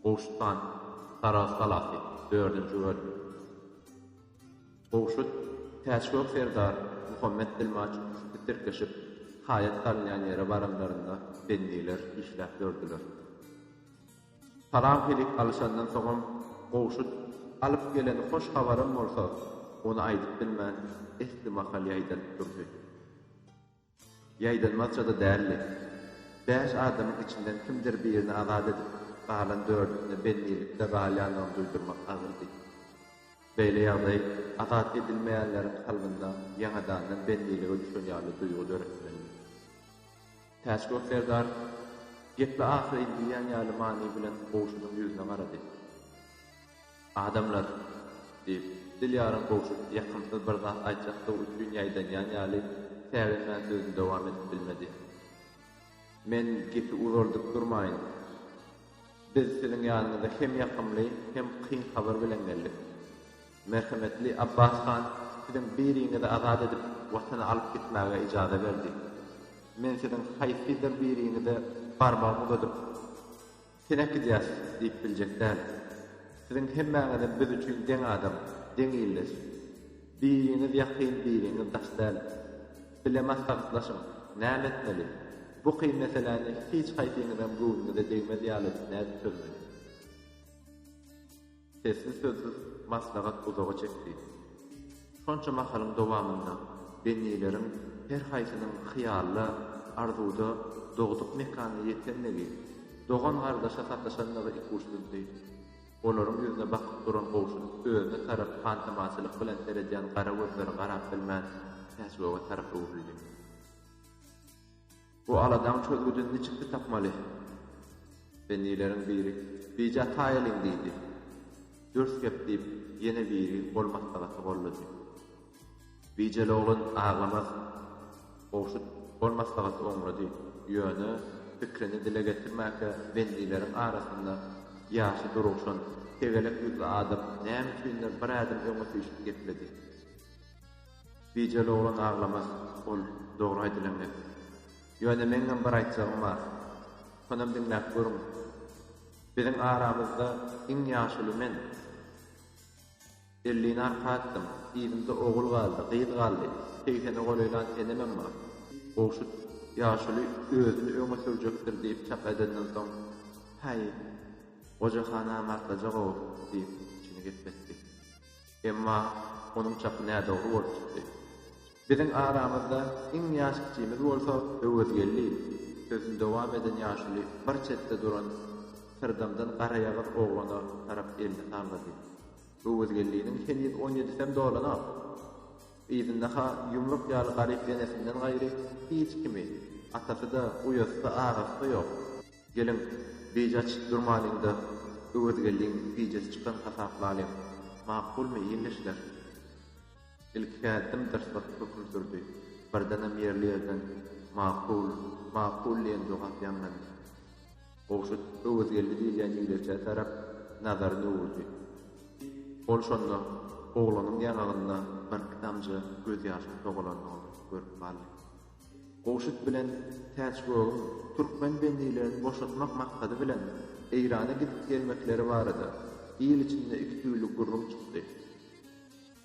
Gowşutdan Saragt galasy, dördünji bölüm. Gowşut, Täçgök serdar, Muhammet dilmaç üçüsi tirkeşip, haýat salynýan ýere baranlarynda bendiler işläp dördiler. Salam-helik alyşandan soňam Gowşut alyp gelen hoş habaram bolsa, ony aýdyp bilmän, esli mahal ýaýdanyp durdy. Ýaýdanmazça-da däldi. Bäş adamyň içinden kimdir birini azat edip, galan dördüsine bendilikde galýandygyny duýdurmak agyrdy. Beýle ýagdaý azat edilmeýänleriň kalbynda ýaňadandan bendilige düşen ýaly duýgy döretmelindi. Täçgök serdar gepli ahyry diýýän ýaly many bilen goňşunyň ýüzüne garady. Adamlar! diýip, dil ýaryň gowşup, ýakymsyz bir zat aýtjakdygy üçin ýaýdanýan ýaly, säginmän sözüni dowam edip bilmedi. Men gepi uzaldyp durmaýyn. Biz siziň ýanyňyza hem ýakymly, hem kyn habar bilen geldik. Merhemetli Abbas han siziň biriňizi azat edip, watana alyp gitmäge ijaza berdi. Men siziň haýsydyr biriňize barmagymy uzadyp. Seläp gidýäs diýip biljek däl. Siziň hemmäňizem biz üçin deň adam, deň ildeş. Biriňiz ýakyn, biriňiz daş däl. Bile maslahatlaşyň, näme etmeli? Bu kyn meseläni hiç haýsyňyzam göwnüňize degmez ýaly nädip çözmeli? Sessiz-sözsüz maslahat uzaga çekdi. Şonça mahalyň dowamynda bennileriň her haýsynyň hyýalda, arzuwda dogduk mekanyna ýetendigi, dogan-gardaşa sataşandygy ikuçsuzdy. Olaryň ýüzüne bakyp duran gowşut özüne tarap hantamaçylyk bilen seredýän gara gözleri garap bilmän Täçgöge tarap öwrüldi. Bu aladaň çözgüdini niçikde tapmaly? Bennileriň biri, Bija taýalyň, diýdi. Dürs gep, diýip, ýene biri gol maslahaty goldady. Bijeli oglan aglamaz. Gowşut gol maslahaty oňlady, ýöne pikrini dile getirmäkä bennileriň arasynda ýaşy durugşan, tegelek ýüzli adam näme üçindir bir ädim öňe süýşüp gepledi. Bijeli oglan aglamaz ol dogry aýdylan gep. Ýöne meňňem bir aýtjagym bar. Şonam diňläp görüň. Biziň aramyzda iň ýaşuly men. Ellini arka atdyň, yzymda ogul galdy, gyz galdy, segsene golaýlan senemem bar. Gowşut ýaşuly özüni öňe sürjekdir diýip çak edenden soň, Häý, goja ha namartlaja gowy, diýip, içini gepletdi. Emma onuň çapy nädogry bolup çykdy. Biziň aramyzda iň ýaş kiçimiz bolsa Öwezgeldi, sözüni dowam eden ýaşuly bir çetde duran syrdamdan garaýagyz oglana tarap elini sallady. Öwezgeldiniň heniz on ýedisem dolanok. Yzynda-ha ýumruk ýaly garyp enesinden gaýry hiç kimi, atasy-da, uýasy-da, agasy-da ýok. Geliň, bije açyp durmalyň-da, Öwezgeldiň bijesi çykan hasaplalyň. Makulmy, ildeşler? Ilki häddim dyrs basyp höküm sürdi. Birdenem ýerli ýerden Makul, makul diýen jogap ýaňlandy. Gowşut Öwezgeldi diýilýän ýigdekçä tarap nazaryny öwürdi. Ol şonda oglanyň ýaňagynda birki damja gözýaşyň sogulandygyny görüp galdy. Gowşut bilen Täçgögüň türkmen bendilerini boşatmak maksady bilen Eýrana gidip-gelmekleri barada il içinde iki tüýli gürrüň çykdy.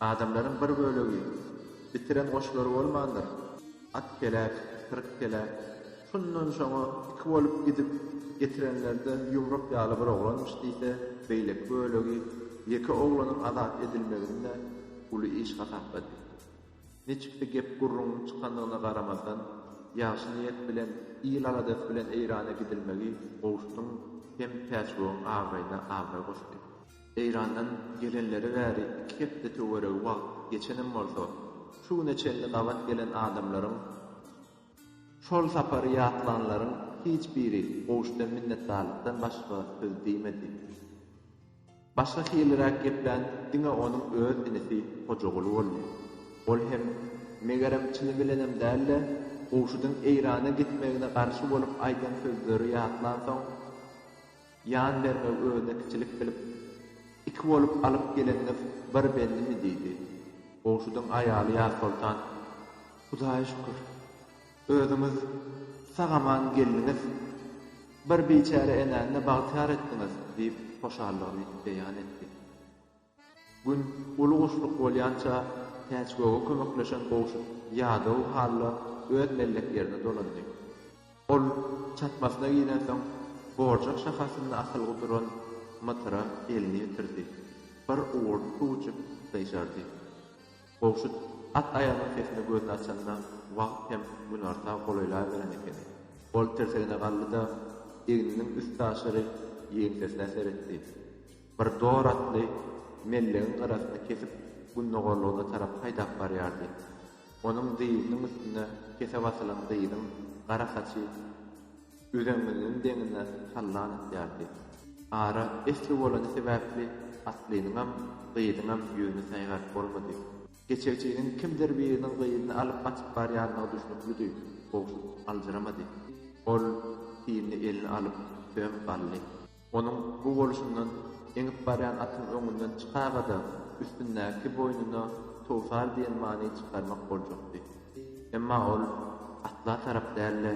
Adamlaryň bir bölegi, Bitiren goşlary bolmandyr. At kelek, syryk kelek. Şundan şoňa iki bolup gidip, getirenleri-de ýumruk ýaly bir oglanmyş diýse, beýleki bölegi, Ýeke oglanyň azat edilmegini-de uly iş hasaplady. Niçiksi gep-gürrüň çykandygyna garamazdan, ýagşy niýet bilen, il aladasy bilen Eýrana gidilmegi Gowşudyň hem Täçbogyň abraýyna abraý goşdy. Eýrandan gelenleri bäri iki hepde töweregi wagt geçenem bolsa, şu güne çenli gabat gelen adamlaryň, şol sapary ýatlanlaryň hiç biri Gowşudan minnetdarlykdan başga söz diýmedi. Başga hiliräk geplän diňe onuň öz inisi Hojaguly boldy. Ol hem, megerem, çyny bilenem däl-de, Gowşudyň Eýrana gitmegine garşy bolup aýdan sözleri ýatlansoň, ýan bermegi özüne kiçilik bilip, Iki bolup alyp geleniňiz bir bendimi? diýdi. Gowşudyň aýaly Ýazsoltan, Hudaýa şükür, Özüňiz sag-aman geldiňiz. Bir biçäre enäni-de bagtyýar etdiňiz, diýip, hoşallygyny beýan etdi. Gün uly guşluk bolýança, Täçgöge kömekleşen Gowşut ýadaw halla öz mellek ýerine dolandy. Ol çatmasyna girensoň, borjak şahasynda asylgy duran mytyra elini ýetirdi. Bir owurt suw içip, gyşardy. Gowşut at aýagynyň sesine gözüni açanda wagt hem günorta golaýlaberen ekeni. Ol tirsegine galdy-da, egniniň üstaşyry ýeňsesine seretdi. Bir dor atly mellegiň gyrasyny kesip gündogarlygyna tarap haýdap barýardy. Onuň dyzynyň üstünde kese basylan gyzyň gara saçy. Üzeňňiniň deňine sallan atýardy. Ara esli bolany sebäpli atlynyňam, gyzyňam ýüzüni saýgap bolmady. Geçegçiniň kimdir biriniň gyzyny alyp gaçyp barýandygy düşnüklidi. Gowşut aljyramady. Ol, synly elini alyp, söm galdy. Onuň bu bolşundan eňip barýan atyň öňünden çykaga-da, üstündäki boýnuna towsar diýen many çykarmak boljakdy. Emma ol atla tarap däl-de,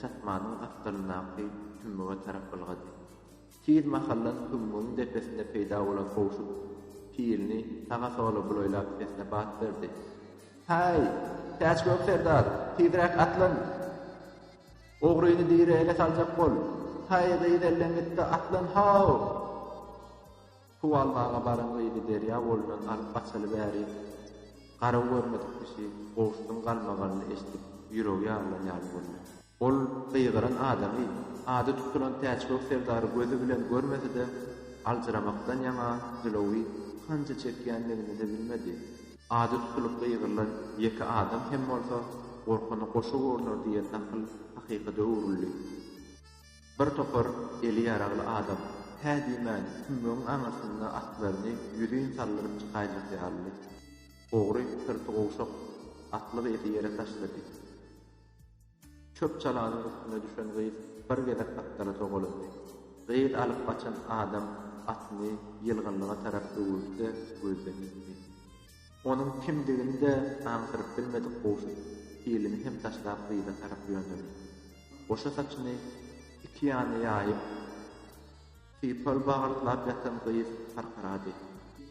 çatmanyň asgyryndaky tümmüge tarap ylgady. Tiz mahaldan tümmügiň depesinde peýda bolan howşut pilini saga-sola bulaýlap sesine bat berdi. Häý, Täçgök serdar, tizräk atlan! Ogryny diri ele saljak bol. Haý, gyz elden gitdi, atlan, haw! Suw almaga baran gyzy derýa bolundan alyp gaçaly bäri, garaw görmedik kişi goşuň galmagalyny eşidip, ýüregi ýarylan ýaly boldy. Ol gygyran adamy, ady tutulan Täçgök serdary gözi bilen görmese-de, aljyramakdan ýaňa jylawy hanja çekýändigini-de bilmedi. Ady tutulykly ýygyrlan ýeke adam hem bolsa gorkana goşa görüner diýen nakyl hakykada öwrüldi. Bir topar eli ýaragly adam hä diýmän tümmegiň aňyrsynda atlaryny ýüzin saldyryp çykaýjak ýalydy. Ogry syrty gowşak, atlyk eti ýere taşlady. Çöp çalanyň üstüne düşen gyz bir gezek atlara sogalandy. Gyz alyp gaçan adam atyny ýylgynlyga tarap öwürdi-de gözden ýitdi. Onuň kimdigini-de aňsyryp bilmedik Gowşut pilini hem taşlap gyza tarap ýöneldi. Goşa saçyny iki ýana ýaýyp, sypal bagaltlap ýatan gyz harkyrady.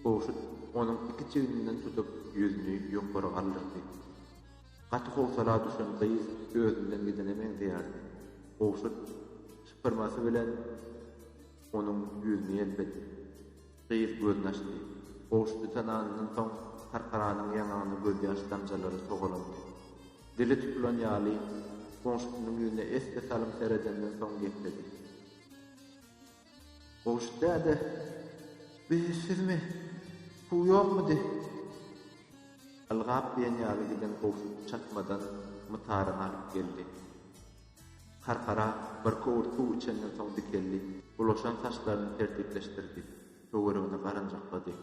Gowşut onuň iki çigninden tutup ýüzüni ýokary galdyrdy. Gaty howsala düşen gyz özünden gidene meňzeýärdi. Gowşut şypyrmasy bilen onuň ýüzüni ýelpedi. Gyz gözüni açdy. Gowşuty tananyndan soň Karkaranyň ýaňagyna gözýaş damjalary togalandy. Dili tutulan ýaly, goňşusynyň ýüzüne esli salym seredenden soň gepledi. Gowşut däde, Bi sizmi? Suw ýokmudy? Ylgap diýen ýaly giden Gowşut çatmadan mytary alyp geldi. Karkara birki owurt suw içenden soň dikeldi. Bulaşan saçlaryny tertipleşdirdi. Töweregine garanjaklady.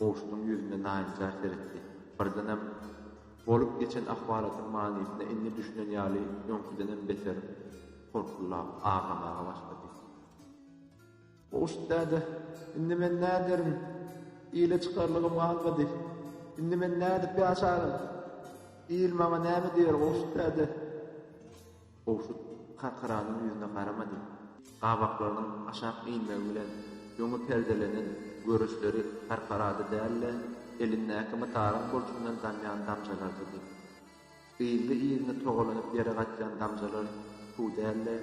Gowşudyň ýüzüne naýynjar seretdi. Birdenem bolup geçen ahwalatyň manysyna indi düşünen ýaly öňküdenem beter horkullap aglamaga başlady. Goşt däde, indi men näderin? Ile çykarlygym galmady. Indi men nädip ýaşaryn? Il maňa näme diýer, Goşt däde? Goşt Karkaranyň ýüzüne garamady. Gabaklarynyň aşak inmegi bilen öňe perdelenen görüşleri Karkarada däl-de, elindäki mytaryň burçundan damýan damjalardydy. Yzly-yzyna togalanyp ýere gaçýan damjalar suw däl-de,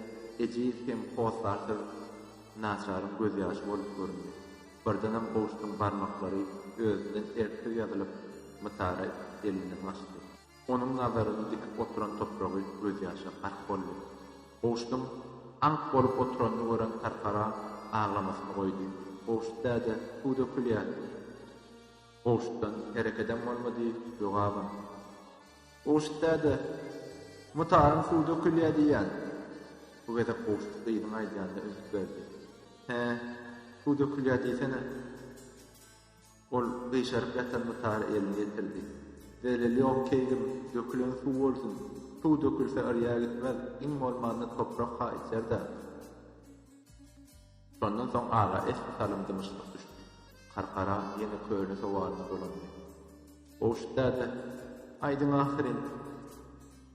ejiz hem hossarsyz naçaryň gözýaşy bolup göründi. Birdenem Gowşutyň barmaklary özünden erksiz ýazylyp, mytara elinden gaçdy. Onuň nazaryny dikip oturan topragy gözýaşa gark boldy. Gowşutyň aňk bolup oturanyny gören Tarkara aglamasyny goýdy. Gowşut däde, suw dökülýär! Gowşutdan herekedem bolmady, jogabam. Gowşut däde, mutaryň suw dökülýä diýýän. Bu gezek Gowşut gyzyň aýdýanyna üns berdi. Hä, suw dökülýä diýsene. Ol gyşaryp ýatan mutara elini ýetirdi. Zeleli ýok keýgim, dökülen suw bolsun. Suw dökülse yrýa gitmez, iň bolmanda toprak-ha içer-dä. Şondan soň aga esli salym dymyşlyk düşdi. Karkara ýene köne sowalyna dolandy. Gowşut däde, Aýdyň ahyryn,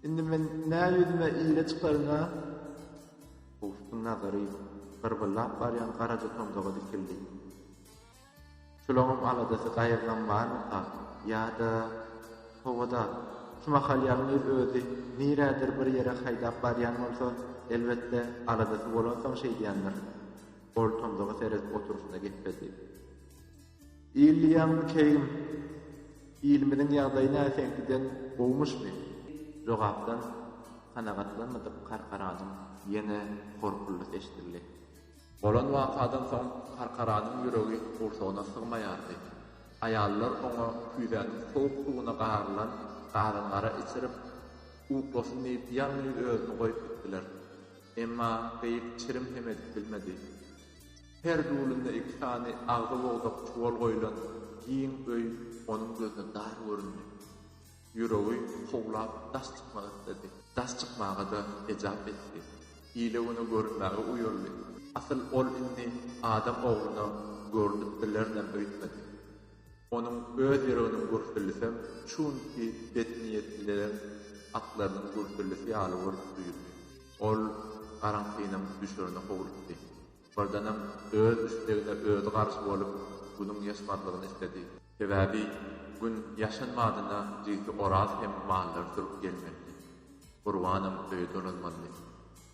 indi men nä ýüzüme ile çykaryn-a? Gowşutyň nazary gyrbylap barýan garaja tomzaga dikildi. Şulaňam aladasy gaýyrdan barmyka ýa-da howada? Şu mahal ýalňyz özi nirädir bir ýere haýdap barýan bolsa, elbetde, aladasy bolansoň şeýdýändir. Ol tomsuga seredip oturyşyna gepbedi. Diýilýämikäýgim, ilimiziň ýagdaýy näseňkiden gowumyşmy? Jogapdan kanagatlanmadyk karkaranyň ýene horkuldy eşidildi. Bolan wakadan soň Karkaranyň ýüregi gursagyna sygmaýardy. Aýallar oňa küýzäniň sowuk suwuna garylan gazangara içirip, uklasyn diýip ýalňyz özüni goýup gitdiler. Emma Gyýyk çirim hem edip bilmedi. Her dulunda iki sany agzy bogdak çuwal goýlan giň öý onuň gözüne dar göründi. Ýüregi howlap daş çykmak isledi. Daş çykmaga-da ejap etdi. Ile-güne görünmäge uýaldy. Asyl ol indi adam ogluna görnüp bilerinem öýtmedi. Onuň öz ýüreginiň gürsüldisem şu günki betniýetlileriň atlarynyň gürsüldisi ýaly bolup duýuldy. Ol garaňkynyň düşerine howlukdy. Birdenem öz islegine özi garşy bolup, günüň ýaşmazlygyny isledi. Sebäbi Gün ýaşan badyna düýki Oraz hem mallary sürüp gelmelidi. Gurbanam öýe dolanmalydy.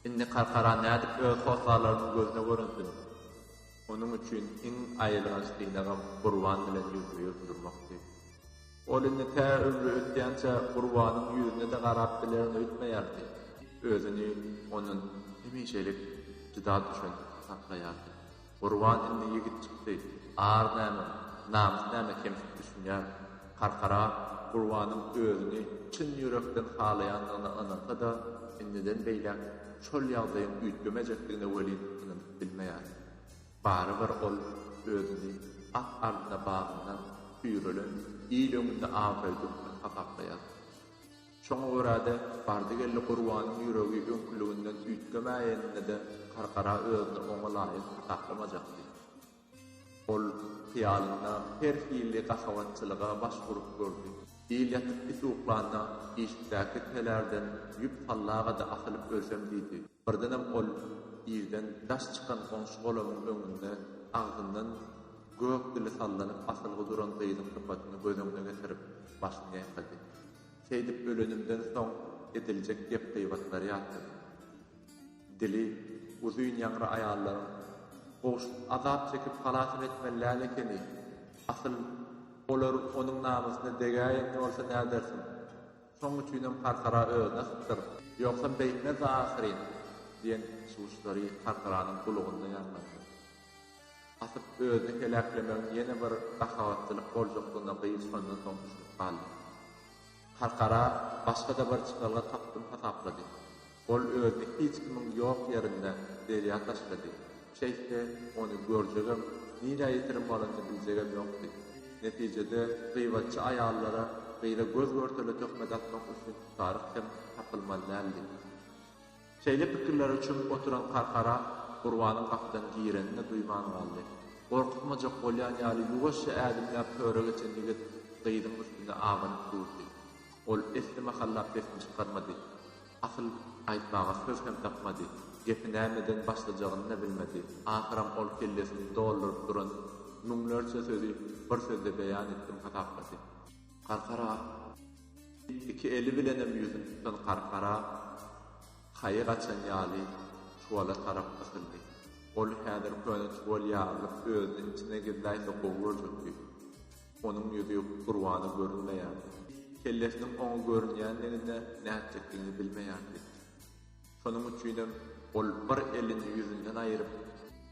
Indi Karkara nädip öz hossarlarynyň gözüne görünsin? Onuň üçin iň aýylganç synagam Gurban bilen ýüzbe-ýüz durmakdy. Ol indi tä ömri ötýänçä Gurbanyň ýüzüne-de garap bilerin öýtmeýärdi. Özüni ondan hemişelik jyda düşen hasaplaýardy. Gurban indi ýigit çykdy, ar näme, namys näme kemsip düşünýär. Karkara Gurbanyň özüni çyn ýürekden halaýandygyna ynansa-da, indiden beýläk şol ýagdaýyň üýtgemejekdigine welin ynanyp bilmeýär. Barybir ol özüni at ardyna bagyndan süýrelen il öňünde abraýly hökmän hasaplaýar. Şoňa görä-de, bardy-geldi Gurbanyň ýüregi öňküliginden üýtgemäýenine-de Karkara özüni oňa laýyk hasaplamajakdy. Ol hyýalynda her hili gahawançylyga baş urup gördi. Il ýatyp-isuklanda işikdäki telerden ýüp sallagada asylyp ölsem diýdi. Birdenem ol ýerden daş çykan goňşy golamyň öňünde agzyndan gök dili sallanyp asylgy duran gyzyň sypatyny göz öňüne getirip, başyny ýaýkady. Seýdip ölenimden soň ediljek gep-gybatlary ýatlady. Dili uzyn ýaňry aýallaryň Gowşut azap çekip halasam etmeli däl ekeni. Asyl, olar onuň namysyna degäýen bolsa nädersiň? Şoň üçinem Karkara özüne sypdyr, ýogsam beýtmezdi ahyryn! diýen çuwuşlary Karkaranyň gulagynda ýaňlandy. Hasyp özüni heläklemegiň ýene bir gahabatlylyk boljakdygyna gyz şondan soň düşünip galdy. Karkara başga-da bir çykalga tapdym hasaplady. Ol özüni hiç kimiň ýok ýerinde derýa taşlady. Şeýtse, ony görjegem, nirä ýitirim bolanyny biljegem ýokdy. Netijede, gybatçy aýallara gyza göz-görtele töhmet atmak üçin tutaryk hem tapylmaly däldi. Şeýle pikirlere çümüp oturan Karkara Gurbanyň gapydan girenini duýman galdy. Gorkuzmajak bolýan ýaly ýuwaşja ädimläp töre geçen ýigit gyzyň üstüne abanyp durdy. Ol esli mahallap sesini çykarmady. Asyl, aýtmaga söz hem tapmady. Gepi nämeden başlajagyny-da bilmedi. Ahyram ol kellesini dolduryp duran müňlerçe sözi bir sözde beýan etdim hasaplady. Garkara! diýip, iki eli bilenem ýüzüni tutan Garkara haýy gaçan ýaly çuwala tarap ysyldy. Ol häzir köne çuwal ýarylyp özüni içine gizläýse gowy görjekdi. Onuň ýüzi Gurbana görünmeýärdi. Kellesiniň oňa görünýändigine nätjekdigini bilmeýärdi. Şonuň üçinem ol bir elini ýüzünden aýryp,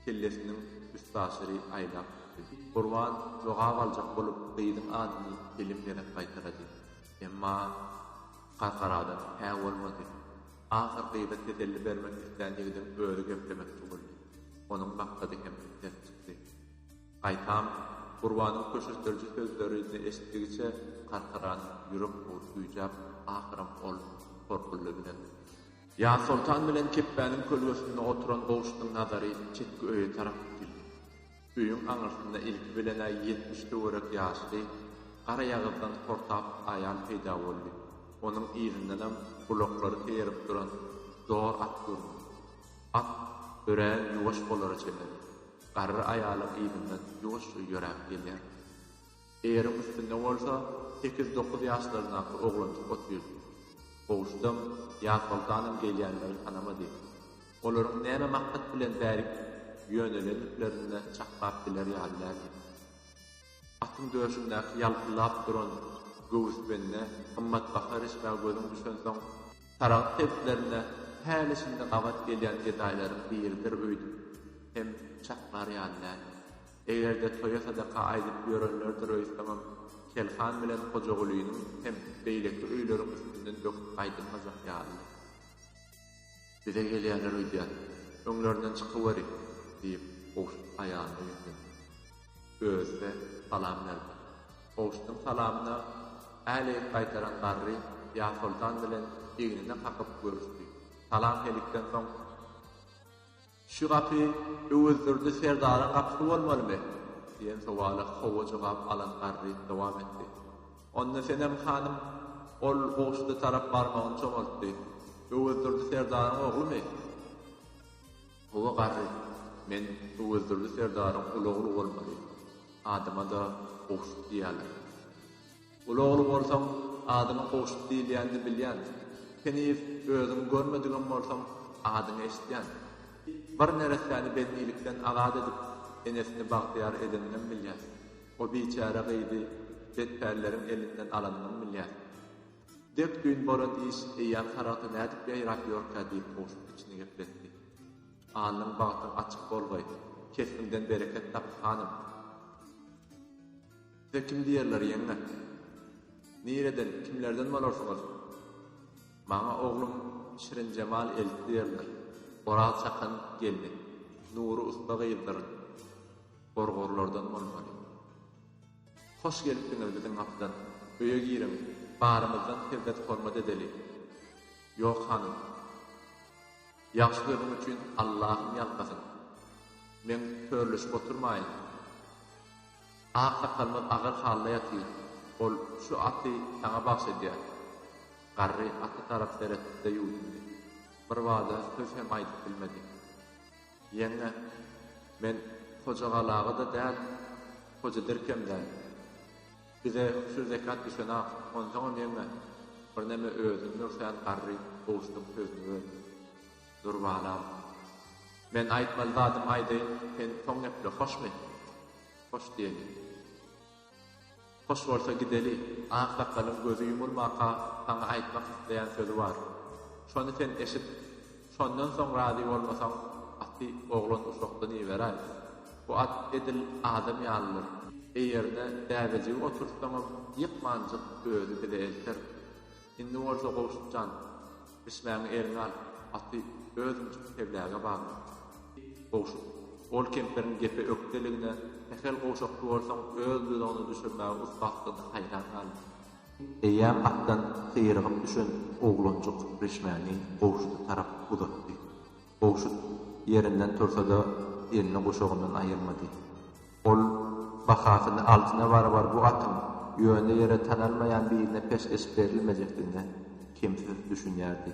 kellesiniň üstaşyry aýlap gitdi. Gurban jogap aljak bolup gyzyň adyny telim gezek gaýtalady. Emma Gargaradan hä bolmady. Ahyr gyza teselli bermek islän ýigidiň özi geplemek tuwuldy. Onuň maksady hem ters çykdy. Gaýtam, Gurbanyň köşeşdiriji sözlerini eşitdigiçe Karkaran ýürek bugup güýjäp, ahyram ol Horkulla bilen. Ýazsoltan bilen Kepbäniň kölgesinde oturan goşunyň nazary çetki öýe tarap dikildi. Öýüň aňyrsynda ilki bilen-ä ýetmiş töwerek ýaşly, garaýagyzdan hortap aýal peýda boldy, onuň yzyndanam gulaklary keýerip duran zor at göründi. At örän ýuwaş bolara çemeli. Garry aýalyň yzyndan ýuwaşja ýöräp gelýär. Eriň üstünde bolsa sekiz-dokuz ýaşlaryndaky oglanjyk otyr. Gowşutam, Ýazsoltanam gelýänleri tanamady. Olaryň näme maksat bilen bärik ýönelendiklerinde çaklap biler ýaly däldi. Atyň döşündäki ýalpyldap duran göwüsbende gymmatbaha rişmä gözüň düşensoň, Saragt sebitlerinde häli-şindi gabat gelýän gedaýlaryň biridir öýdüp hem çaklar ýaly däl. Eger-de toýa sadaka aýdyp ýörenlerdir öýtseňem, Kelhan bilen Hojagulynyň hem beýleki öýleriň üstünden böküp gaýdylmajak ýalydy. Bize gelýärler öýdýän, öňlerinden çykyweri! diýip, Gowşut aýalyna ýüzlendi. Özüne salam berdi. Kowşudyň salamyna äleýik gaýtaran garry Ýasoltan bilen egnine kakyp görüşdi. Salam-helikden soň. Şu gapy Öwezdurdy serdaryň gapysy bolmalymy? diýen sowala hawa jogap alan garry dowam etdi. Onda Senem hanym ol Kowşuda tarap barmagyny çomaltdy. Öwezdurdy serdaryň oglumy? Hawa garry, men Öwezdurdy serdaryň uly ogly bolmaly. Adyma-da Gowşut diýýärler. Uly ogly bolsaň, adyňa Gowşut diýilýänini bilýän. Heniz özüňi görmedigem bolsaň, adyňy eşitýän. Bir neressäni bendilikden azat edip, enesini bagtyýar edeninem bilýän. O biçäre gyzy betpälleriň elinden alanyňam bilýän. Dep-düýn bolan iş eýýäm Saragta nädip ýaýrap ýörkä diýip kowşup içini gepletdi. Alnyň bagtyň açyk bolgaý, kesbiňden bereket tap, hanym! Size kim diýerler, ýeňňe? Nireden, kimlerden bolarsyňyz? Maňa oglum Şirinjemal elti diýerler. Oraz çakan gelni, Nury ussa gyzdyr. Gorgorlardan bolmaly. Hoş gelipdiňiz biziň atdan. Öýe giriň, barymyzdan hezzet-hormat edeli. Ýok, hanym. Ýagşy sözüň üçin Allahym ýalkasyn. Men törleşip oturmaýyn. Aksakalymyz agyr halda ýatyr. Ol şu aty saňa bagyş edýär. Garry ata tarap seretdi-de ýuwdundy. Birbada söz hem aýdyp bilmedi. Ýeňňe, men Hojagalaga-da däl, Hoja Dirkem däl. Bize şu zekat düşen-ak. Onsoňam, ýeňňe, birneme özüň dur, sen garry, gowuşdyň, sözüňi ber. Dur, balam. Men aýtmaly zadymy aýdaýyn, sen soň geple, hoşmy? Hoş diýeli. Hoş bolsa gideli, ak sakalyň gözi ýumulmaka saňa aýtmak isleýän sözi bar. Şony sen eşit. Şondan soň razy bolmasaň, aty oglan uşakdan iberäý. Bu at edil adam ýalydyr. Eýerine däbejigi oturtsaňam, ýykmanjyk özi bize elter. Indi bolsa Gowşut jan, bişmäňi eliňe al, aty özüň çyk Kebläge bagla, diýip, Gowşut ol kempiriň gepe ökdeligine, sähel gowşakçy bolsaň öz duzagyna düşürmäge ussatdygyna haýran galdy. Eýýäm atdan syrygyp düşen oglanjyk bişmäni Gowşuta tarap uzatdy. Bogşut ýerinden tursa-da, elini guşagyndan aýyrmady. Ol bahasyny altyna barabar bu atyň ýöne ýere tanalmaýan birine peşgeş berilmejekdigine kemsiz düşünýärdi.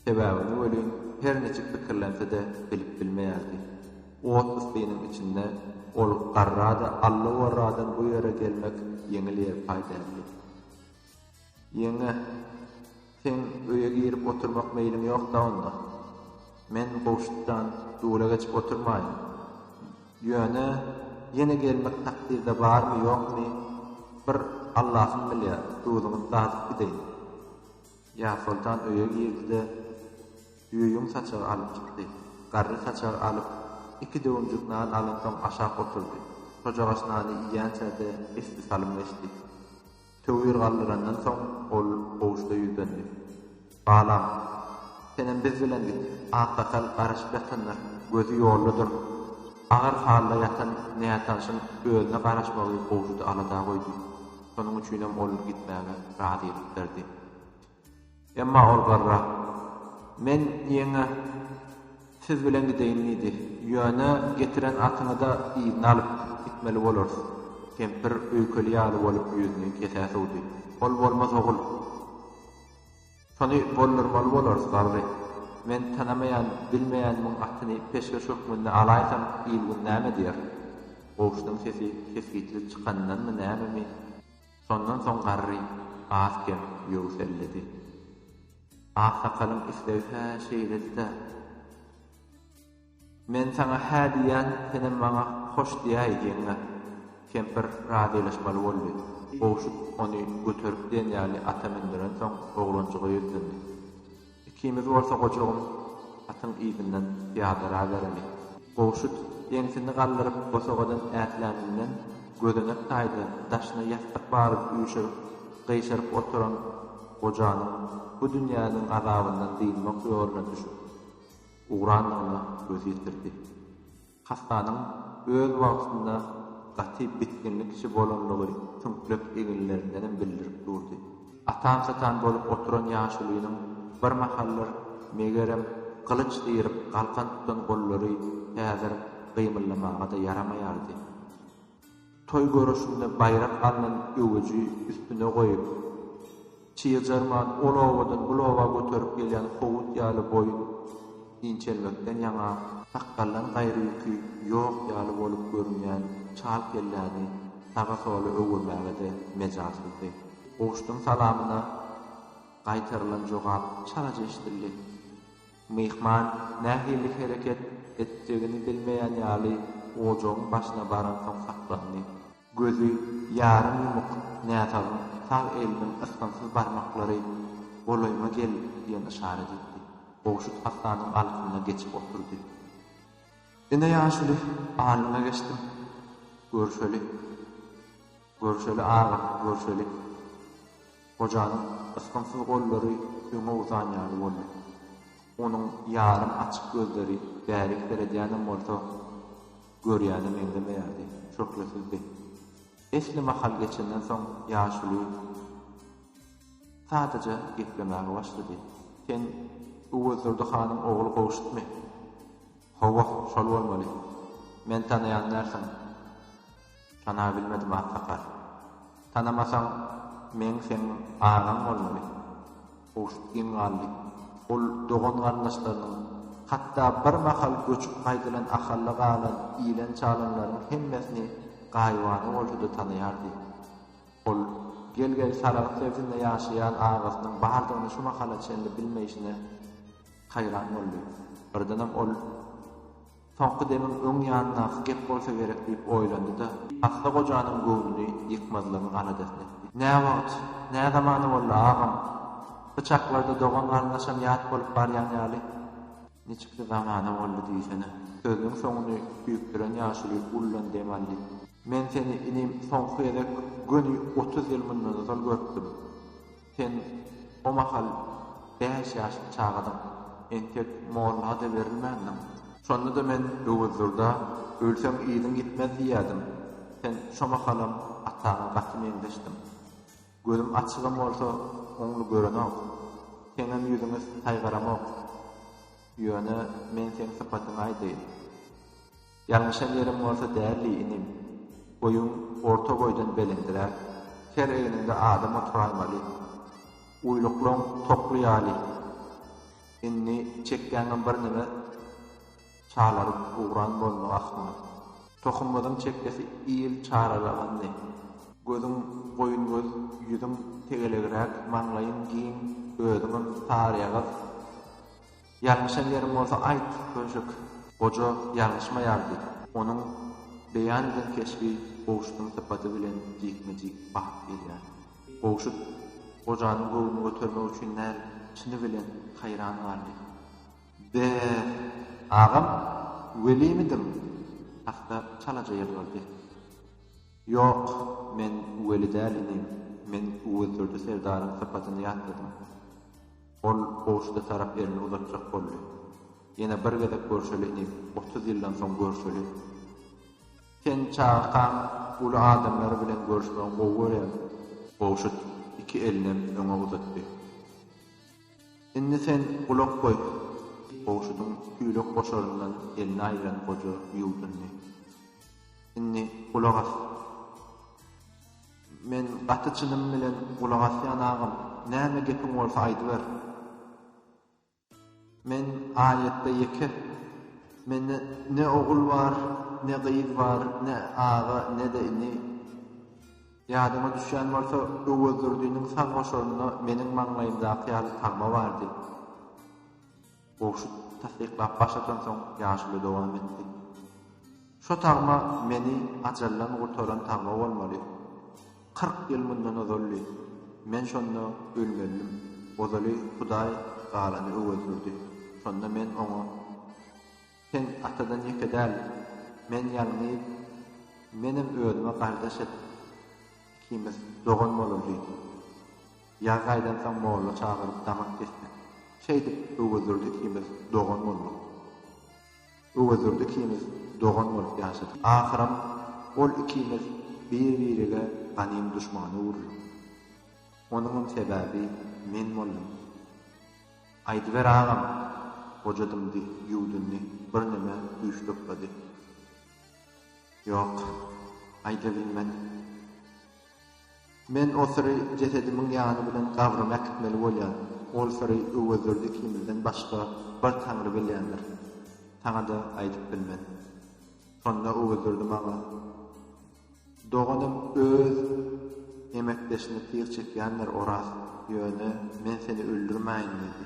Sebäbini welin her niçik pikirlense-de bilip bilmeýärdi. Ot ysynyň içinde ol garrada allowarradan bu ýere gelmek ýeňil-ýelpaý däldi. Ýeňňe, seň öýe girip oturmak meýliň ýok-da onda? Men Gowşutdan dura geçip oturmaýyn. Ýöne, ýene gelmek takdyrda barmy-ýokmy, bir Allahym bilýär, duzuňyz dazyp gideýin. Ýarsoltan öýe girdi-de, düýeýüň saçagy alyp çykdy. Garry saçagy alyp, iki döwümjik nan alansoň aşak oturdy. Şojagaç nany iýýänçä-de esli salym geçdi. Töwir galdyrandan soň ol Gowuşda ýüzlendi. Balam, senem biz bilen git. Aksakal garaşyp ýatandyr, gözi ýoldadyr. Agyr halda ýatan nätanyşyň özüne garaşmagy Gowuşdy alada goýdy. Şonuň üçinem ol gitmäge razylyk berdi. Emma ol garra, Men ýeňňe siz bilen gideýin diýdi. Ýöne getiren atyňy-da yzyna alyp gitmeli bolarys. Kempir öýkeli ýaly bolup ýüzüni kesä sowdy. Ol bolmaz ogul. Şony boldurmaly bolarys, garry. Men tanamaýan, bilmeýänimiň atyny peşgeş hökmünde alaýsam, il-gün näme diýer? Goşunyň sesi kesgitli çykanyndanmy nämemi? Şondan soň garry az-kem ýöwselledi. Aksakalyň islegi hä şeýledi-dä. Men saňa hä diýýän, senem maňa hoş diýäý, ýeňňe. Kempir razylaşmaly boldy. Gowşut ony göterip diýen ýaly ata mündürensoň, oglanjyga ýüzlendi. Ikimiz bolsa gojugyň atyň yzyndan pyýadalabereli. Gowşut ýeňsini galdyryp bosagadan ätläninden gözenek taýda daşyna ýassyk baryp üýşürip, gyşaryp oturan gojanyň bu dünýäniň gazabyndan dynmak ýoluna düşüp ugrandygyna göz ýetirdi. Hassanyň öz wagtynda gaty bitginli kişi bolanlygy tümplek eginlerindenem bildirip durdy. Atan-satan bolup oturan ýaşulynyň bir mahallar, megerem, gylyç syryp galkan tutan gollary häzir gymyldamaga-da ýaramaýardy. Toý görüşinde baýrak alnan öwüji üstüne goýup, çyýyjarman ol obadan bul oba göterip gelýän howut ýaly boýun inçelmekden ýaňa, sakgaldan gaýry ýüki ýok ýaly bolup görünýän çal kelläni saga-sola öwürmäge-de mejalsyzdy. Gowşudyň salamyna gaýtarylan jogap çalaja eşidildi. Myhman nähili hereket etjegini bilmeýän ýaly ojagyň başyna baransoň saklandy. Gözi ýarym ýumuk näsagyň sag eliniň ysgynsyz barmaklary golaýyma gel diýen yşarat etdi. Gowşut hassanyň alkymyna geçip oturdy. Ine ýaşuly, alnyňa geçdim. Görüşeli. Görüşeli agam, görüşeli. Gojanyň ysgynsyz gollary öňe uzan ýaly boldy. Onuň ýarym açyk gözleri bärik seredýänem bolsa, görýäne meňzemeýärdi, şöhlesizdi. Esli mahal geçenden soň ýaşuly sadaja geplemäge başlady. Sen Öwezdurdy hanyň ogly Gowşutmy? Hawa, şol bolmaly. Meni tanaýan dälsiň. Tanap bilmedim aksakal. Tanamasaň meň seň agaň bolmaly. Kowşut geň galdy. Ol dogan-garyndaşlarynyň, hatda bir mahal göçüp gaýdylan Ahalla galan ilen-çalanlaryň hemmesini gaýybana bolsa-da tanaýardy. Ol gel-gel Saragt sebitinde ýaşaýan agasynyň bardygyny şu mahala çenli bilmeýşine haýran boldy. Birdenem ol. Soňky demim öň ýanyndaky gep bolsa gerek diýip oýlandy-da, Asly gojanyň göwnüni ýykmazlygyň aladasyny etdi. Nä wagt, nä zamana boldy, agam? By çaklarda dogan-garyndaşam ýat bolup barýan ýaly. Niçiksi zamana boldy diýsene? Sözüniň soňuny süýkdüren ýaşuly uludan dem aldy. Men seni, inim, soňky gezek göni otuz ýyl mundan ozal görüpdim. Sen o mahal bäş ýaşly çagadyň, entek molla-da berilmändiň. Şonda-da men Öwezdurda, Ölseň yzyň ýitmez diýýädim. Sen şo mahalam ataňa gaty meňzeşdiň. Gözüm açygam bolsa, oňly görenok. Seňem ýüzüňi saýgaramok. Ýöne men seň sypatyňy aýdaýyn. Ýalňyşan ýerim bolsa däldi, inim. Boýuň orta boýdan belenträk. Ker egniňde adam oturaýmaly. Uýluklaň tokly ýaly. Indi çekgäňem birneme çalaryp ugran bolmaly ahmal. Tohumyzyň çekgesi il çaralagandy. Gözüň goýun göz, ýüzüň tegelegräk, maňlaýyň giň, özüňem saryýagyz. Ýalňyşan ýerim bolsa aýt, Könşek! Goja ýalňyşmaýardy. Onuň beýan eden keşbi Gowşutyň sypaty bilen jikme-jik bakyp gelýärdi. Gowşut gojanyň göwnüni götermek üçin däl, çyny bilen haýran galdy. Be-e-e! Agam, welimidiň? Hassa çalaja ýylgyrdy. Ýok, men weli däl, inim. Men Öwezdurdy serdaryň sypatyny ýatladym. Ol kowşuda tarap elini uzatjak boldy. Ýene bir gezek görşeli inim, otuz ýyldan soň görşeli. Sen çagakaň uly adamlary bilen görşmegi gowy görýäň. Kowşut iki elinem öňe uzatdy. Indi sen gulak goý, diýip, kowşudyň tüýlek goşaryndan elini aýyran goja ýuwdundy. Indi gulak as. Men gaty çynym bilen gulak asýan agam, näme gepiň bolsa aýdyber. Men aýatda ýeke. Mende ne ogul bar, ne gyz bar, ne aga, ne-de ini. Ýadyňa düşýän bolsa, Öwezdurdiniň sag goşarynda meniň maňlaýymdaky ýaly tagma bardy. Gowşut tassyklap baş atansoň ýaşuly dowam etdi. Şo tagma meni ajaldan gurtaran tagma bolmaly. Kyrk ýyl mundan ozaldy. Men şonda ölmelidim. Ozaly Hudaý galany öwezgürdi. Şonda men oňa, Sen atadan ýeke däl. Men ýalňyz. Menem özüme gardaş et. Ikimiz dogan bolar diýdim. Ýaz aýdan soň molla çagyryp damak kesdik. Şeýdip, Öwezdurdy ikimiz dogan bolduk. Öwezdurdy ikimiz dogan bolup ýaşadyk. Ahyram ol ikimiz bir-birige ganym duşman öwrülduk. Onuňam sebäbi men boldum. Aýdyber agam! Goja dymdy, ýuwdundy, birneme güýçli yklady. Ýok, aýdabilmen. Men o syry jesedimiň ýany bilen gabryma äkitmeli bolýan. Ol syry Öwezdurdy ikimizden başga bir Taňry bilýändir. Saňa-da aýdyp bilmen. Şonda Öwezdurdy maňa, Doganym öz emekdeşini tyg çekýändir, Oraz, ýöne men seni öldürmäýin diýdi.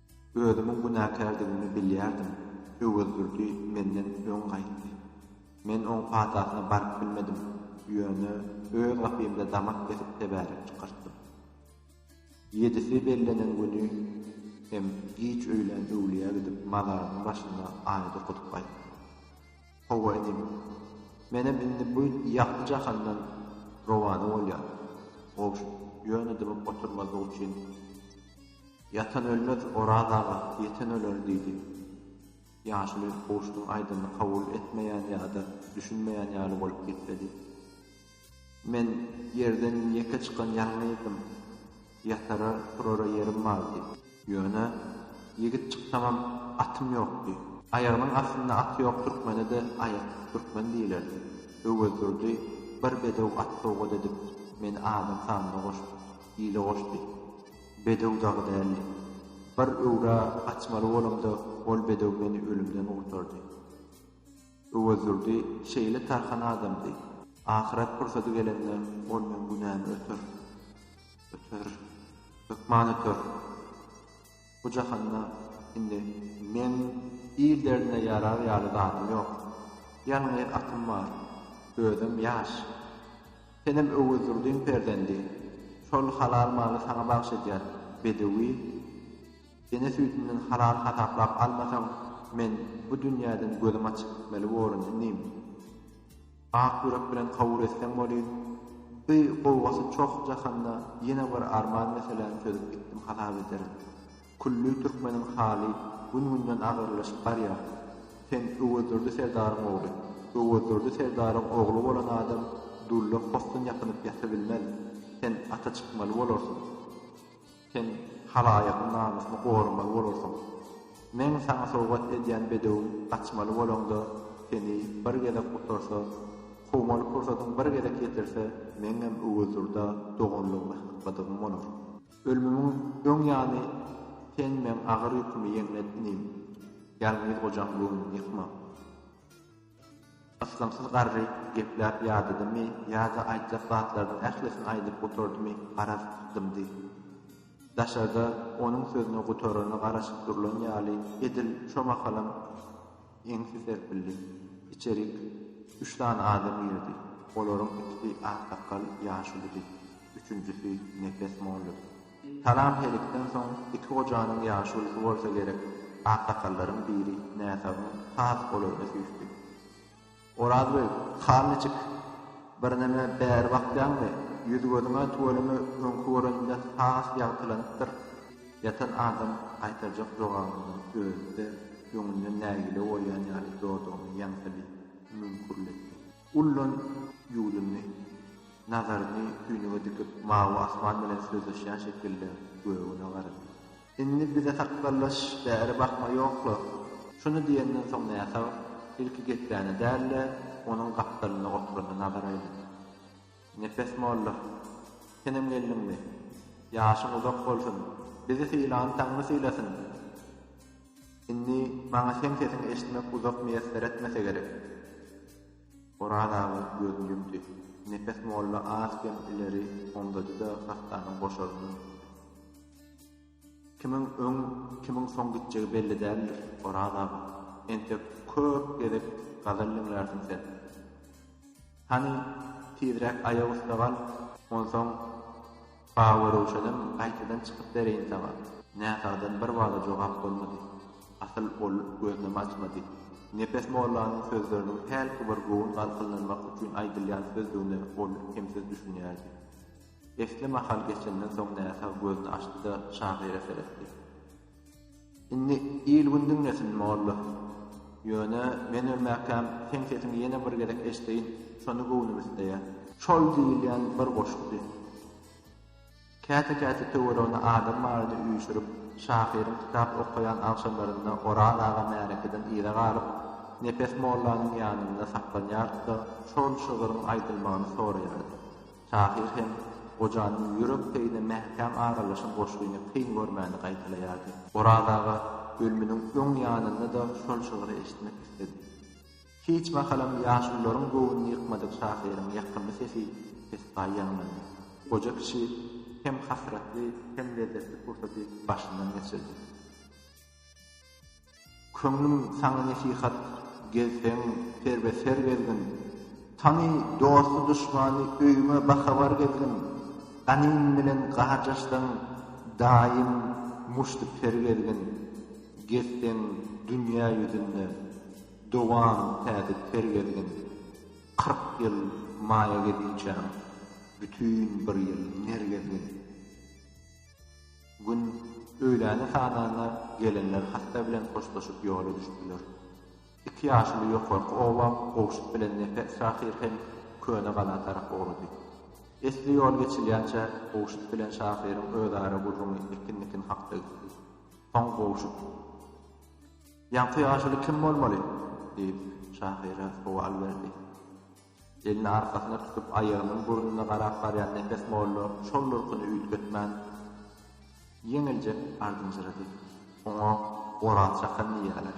Özümiň günäkärdigimi bilýärdim. Öwezdurdy menden öň gaýtdy. Men oň patasyna baryp bilmedim, ýöne öz gapymda damak kesip tebärek çykartdym. Ýedisi bellenen güni hem giç öýlän öwlüýä gidip mazaryň başynda aýat okadyp gaýtdym. Hawa inim, menem indi bu ýagty jahandan rowana bolýan, gowy şu, ýöne dymyp oturmazlyk üçin, Ýatan ölmez, Oraz aga, ýeten öler diýdi. Ýaşuly Gowşudyň aýdanyny kabul etmeýän ýa-da düşünmeýän ýaly bolup gepledi. Men ýerden ýeke çykan ýalňyzdym. Ýatara, turara ýerim bardy. Ýöne, ýigit çyksamam, atym ýokdy. Aýagynyň astynda aty ýok türkmene-de aýaksyz türkmen diýilerdi. Öwezdurdy bir bedew at sowgat edip, meni adam sanyna goşup, ile goşdy. Bedew dagy däldi. Bir öwra gaçmaly bolamda ol bedew meni ölümden gurtardy. Öwezdurdy şeýle tarhan adamdy. Ahyret pursady gelende ol meň günämi öter. Öter. Hökman öter. Bu jahanda indi meň il derdine ýarar ýaly zadym ýok. Ýalňyz atym bar. Özem ýaş. Senem Öwezdurdyň perzendi. Şol halal maly saňa bagyş edýär, bedewi. Ene süýdünden halal hasaplap almasaň, men bu dünýäden gözüm açyk gitmeli borun, inim. Ak ýürek bilen kabul etseň bolýr. Bi gowgasy çoh jahanda ýene bir arman meseläni çözüp gitdim hasap ederin. Külli türkmeniň haly gün-günden agyrlaşyp barýar. Sen Öwezdurdy serdaryň ogly. Öwezdurdy serdaryň ogly bolan adam dulla possun ýapynyp ýatybilmez. Sen ata çykmaly bolarsyň. Sen halaýygyň namysyny goramaly bolarsyň. Meň saňa sowgat edýän bedewim gaçmaly bolaňda, seni bir gezek gutarsa, kowmaly pursadyň bir gezek ýetirse, meňňem Öwezdurda doganlygymy hakladygym bolar. Ölmümiň öň ýany sen meň agyr ýükümi ýeňlet inim, Ýalňyz gojaň göwnüni ýykma. Ysgynsyz garry gepläp ýadadymy ýa-da aýtjak zatlarynyň ählisini aýdyp gutardymy garaz dymdy. Daşarda onuň sözüni gutarana garaşyp durlan ýaly edil şo mahalam Eňsi serpildi. Içerik üç sany adam girdi. Olaryň ikisi aksakgal ýaşulydy. Üçünjisi nepes molludy. Salam-helikden soň iki gojanyň ýaşulusy bolsa gerek, aksakallaryň biri näsagyň has golaýyna süýşdi. Oraz beý, han niçik? Birneme bäri bakýaňmy? Ýüz-gözüňe tüweleme öňki göreninden has ýagtylanypdyr. Ýatan adam gaýtarjak jogabynyň özi-de öňünden nägile bolýan ýaly dodagyny ýaňsylyp, müňkürlendi. Ullan ýüzüni, nazaryny tüýnüge dikip, mawy asman bilen sözleşýän şekilde gögüne garady. Indi bize sakgallaş bäri bakma ýokla. Şuny diýenden soň näsag ilki Geplänä däl-de, onuň gapdalynda oturana nazar aýlady. Nepes molla, senem geldiňmi? Ýaşyň uzak bolsun! Bizi sylan Taňry sylasyn! Indi maňa seň sesiňi eşitmek uzak miýesser etmese gerek. Oraz aga gözüni ýumdy. Nepes molla az-kem ileri omzady-da, hassanyň boşaryna gitdi. Kimiň öň, kimiň soň gitjegi belli däldir, Oraz aga. Entek köp gezek gazal diňlärsiň sen. Hany, tizräk aýak üste gal, onsoň. Baba Röwşenem gaýtadan çykyp bereýin saňa. Näsagdan bir wada jogap bolmady. Asyl ol gözünem açmady. Nepes mollanyň sözleriniň hälki bir göwün galkynlanmak üçin aýdylýan sözdügine ol kemsiz düşünýärdi. Esli mahal geçenden soň näsag gözüni açdy-da, şahyra seretdi. Indi il-gün diňlesin, molla. Ýöne, men ölmäkäm, seň sesiňi ýene bir gezek eşdeýin, şony göwnüm isleýär. Şol diýilýän bir goşukdy. Käte-käte töweregine adam baryny üýşürip, şahyryň kitap okaýan agşamlarynda Oraz aga märekeden yza galyp, Nepes mollanyň ýanynda saklanýardy-da, şol şygryň aýdylmagyny soraýardy. Tahyr hem Gojanyň ýürek peýine mäkäm aralaşan goşgyny kyn görmäni gaýtalaýardy. Oraz aga bölmüniň öň ýanynda-da şol şygry eşitmek isledi. Hiç mahalam ýaşulularyň göwnüni ýykmadyk şahyryň ýakymly sesi pessaý ýaňlandy. Goja kişi hem hasratly, hem lezzetli pursady başyndan geçirdi. Köňlüm saňa nesihat Gezseň serbe ser gezgin Tany dosty duşmany Öýüme bahabar gezgin Ganym bilen garjaşsaň Daýym muşty per gezgin Gezseň dünýä ýüzünde Dowam täze ter gezgin Kyrk ýyl maýa geziçäň Bütin bir ýyl ner gezgin. Gün öýläni sananda gelinler hassa bilen hoşlaşyp ýola düşdüler. Iki ýaşuly ýokarky oba gowşut bilen Nepes şahyr hem Köne gala tarap ugrady. Esli ýol geçilýänçä gowşut bilen şahyryň özara gürrüňi ekin-nikin hakda gitdi. Soň gowşut. Ýaňky ýaşuly kim bolmaly? diýip, şahyra sowal berdi. Elini arkasyna tutup, aýagymyň burnuna garap barýan Nepes molla şol durkuny üýtgetmän, ýeňiljek ardynjyrady. Oňa Oraz çakan diýýärler.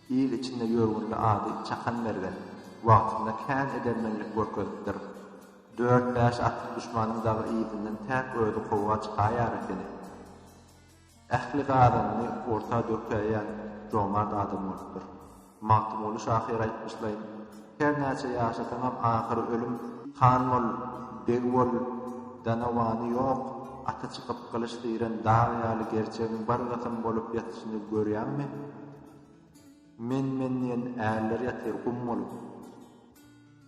Il içinde ýörgünli ady Çakan mergen. Wagtynda kän edermenlik görkezipdir. Dört-bäş atly duşmanyň dagy yzyndan täk özi kowga çykaýar ekeni. Ähli gazanyny orta dökäýen jomart adam bolupdyr. Magtymguly şahyr aýtmyşlaý, Her näçe ýaşasaňam ahyry ölüm. Han bol, beg bol, danawany ýok, aty çykyp gylyç diren dag ýaly gerçegiň bir gysym bolup ýatyşyny görýäňmi? Men-men diýen ärler ýatyr gum bolup.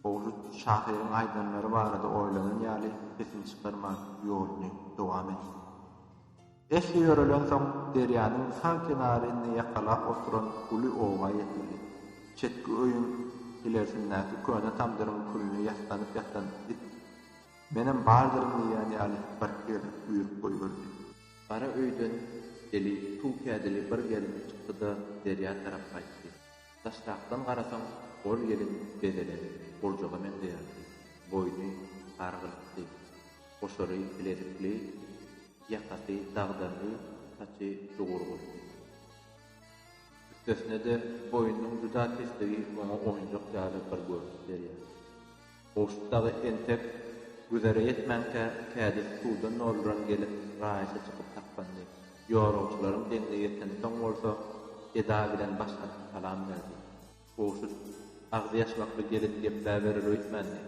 Ogşut şahyryň aýdanlary barada oýlanan ýaly sesini çykarman ýoluny dowam etdi. Eşi ýörelensoň, derýanyň sag kenaryny ýakalap oturan uly oba ýetildi. Çetki öýüň ilersindäki köne tamdyryň külüne ýassanyp ýatan it, Menem bardyryn diýýän ýaly bir hir üýrüp goýberdi. Gara öýden eli tuw kädili bir gelin çykdy-da, derýa tarap gaýtdy. Daşrakdan garasaň, ol gelin bezelen gurjaga meňzeýärdi. Boýny gargylykdy. Goşary bilezikli. Ýakasy dagdyrly, saçy jugurgul. Üstesine-de, boýnunyň juda pesligi oňa oýunjak ýaly bir görnüş berýär. Gowşut dagy entek güzere ýetmänkä, kädis suwdan dolduran gelip, raýata çykyp saklandy. Ýorugçylaryň deňine ýetensoň bolsa, eda bilen başlaryna salam berdi. Goşy agzy ýaşmakly gelin gepläberer öýtmändi.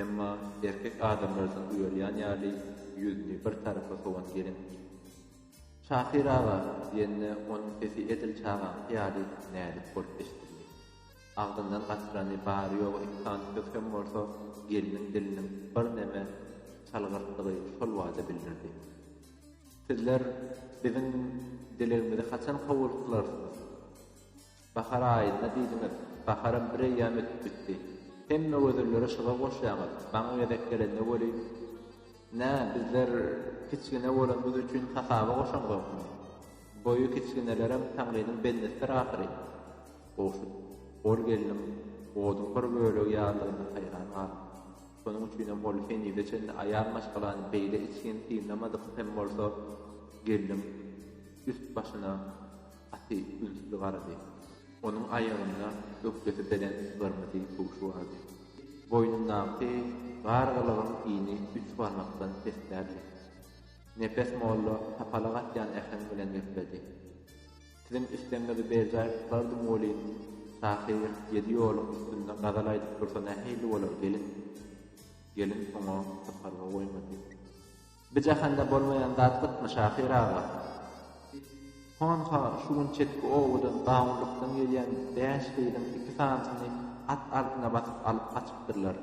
Emma erkek adamlardan uýalýan ýaly ýüzüni bir tarapa sowan gelin. Şahyr aga diýende onuň sesi edil çagaňky ýaly näzik bolup eşidildi. Agzyndan gaçyrany bary-ýogy iki sany söz hem bolsa gelniň diliniň birneme çalgyrtdygy şol bada bildirdi. Sizler biziň dilegimizi haçan kowuldyklarsyňyz? Bahar aýynda diýdiňiz, baharam bir eýýäm ötüp gitdi. Hemme gözelleri şyga goşýaňyz, maňa gezek gelende welin, Nä, bizler kiçgine bolanymyz üçin hasaba goşaňzokmy? Boýy kiçginelerem Taňrynyň bendisidir ahyry. Gowşut, Ol gelniň oduň bir bölegi ýalydygyna haýran galdy. Şonuň üçinem ol henize çenli aýal maşgalany beýle içgin synlamadyk hem bolsa, gelniň üst-başyna, Gaty ünsli garady. Onuň aýagynda ökjesi belent gyrmyzy tugşy bardy. Boýnundaky gargylygyň ini üç barmakdan pesdärdi. Nepes molla tapala gatýan äheň bilen gepledi. Siziň islegiňizi berjaý tutardym welin, şahyr ýedi ýoluň üstünde gazal aýdyp dursa nähili bolar, gelin? Gelin oňa sypalga goýmady. Bi jahanda bolmaýan zat gytmy, şahyr aga? Biz, Honha, şu gün çetki obadan gawunlykdan gelýän bäş gyzyň iki sanysyny at artyna basyp alyp gaçypdyrlar.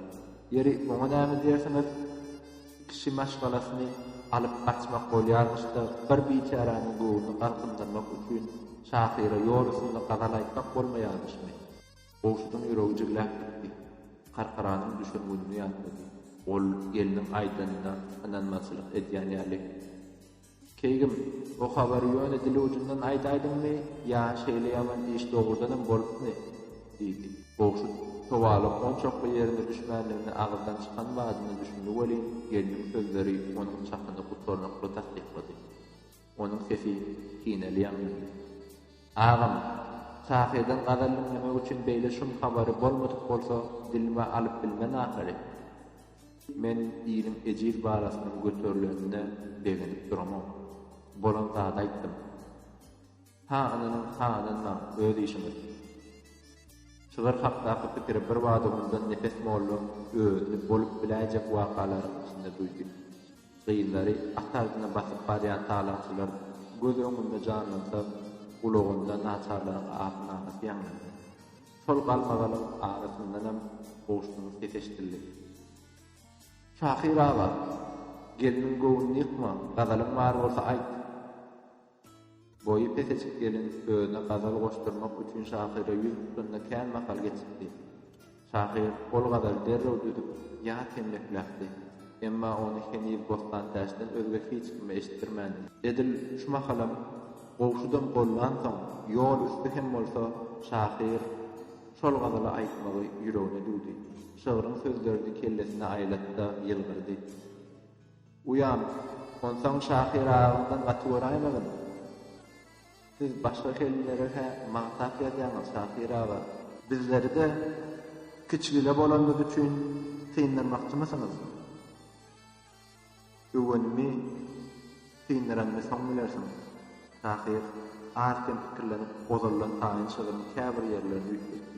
Ýeri, oňa näme diýersiňiz? Kişi maşgalasyny alyp gaçmak bolýarmyş-da, bir biçäräniň göwnüni galkyndyrmak üçin şahyra ýol üstünde gazal aýtmak bolmaýarmyşmy? Gowşudyň ýüregi jigläp gitdi. Karkaranyň düşen gününi ýatlady. Ol gelniň aýdanyna ynanmazçylyk edýän ýaly. Keýgim, o habary ýöne dil ujundan aýdaýdyňmy ýa şeýle ýaman iş dogrudanam bolupmy? diýdi. Gowşut sowalyň onçakly ýerine düşmändigini agyzdan çykan badyna düşündi welin, gelniň sözleri onuň çakyny gutarnykly tassyklady. Onuň sesi kineli ýaňlandy. Agam, şahyrdan gazal diňlemek üçin beýle şum habary bolmadyk bolsa dilime alyp bilmen ahyry. Men iliň ejiz balasynyň göterilenine begenip duramok. Bolan zady aýtdym. Ha ynanyň, ha ynanmaň, öz işiňiz. Şygyr hakdaky pikiri birbada mundan Nepes molla özüni bolup biläýjek wakalaryň içinde duýdy. Gyzlary at agzyna basyp barýan talaçylar göz öňünde janlansa, gulagynda naçarlaryň ahy-nalasy ýaňlandy. Şol galmagalyň arasyndanam Gowşunyň sesi eşidildi. Şahyr aga! Gelniň göwnüni ýykma, gazalyň bar bolsa aýt! Boýy peteçik gelin özüne gazal goşdurmak üçin şahyra ýüz tutanda kän mahal geçipdi. Şahyr ol gazaly derrew düzüp, ýat hem mekläpdi. Emma ony heniz Bossantäçden özge hiç kime eşitdirmändi. Edil şu mahalam gowşudam gollansoň, ýol üsti hem bolsa, şahyr şol gazaly aýtmagy ýüregine düwdi. Şygryň sözlerini kellesine aýlady-da, ýylgyrdy. Uýam, Onsoň Şahyr aganyňdan gaty göräýmegin. Siz başga kelinlere-hä maňsap ýazýaňyz, Şahyr aga. Bizleri-de kiçigile bolanymyz üçin syndyrmakçymysyňyz? Öwenimi syndyranymy soň bilersiň, Şahyr az-kem pikirlenip ozaldan taýyn şygryň käbir ýerlerini üýtgetdi.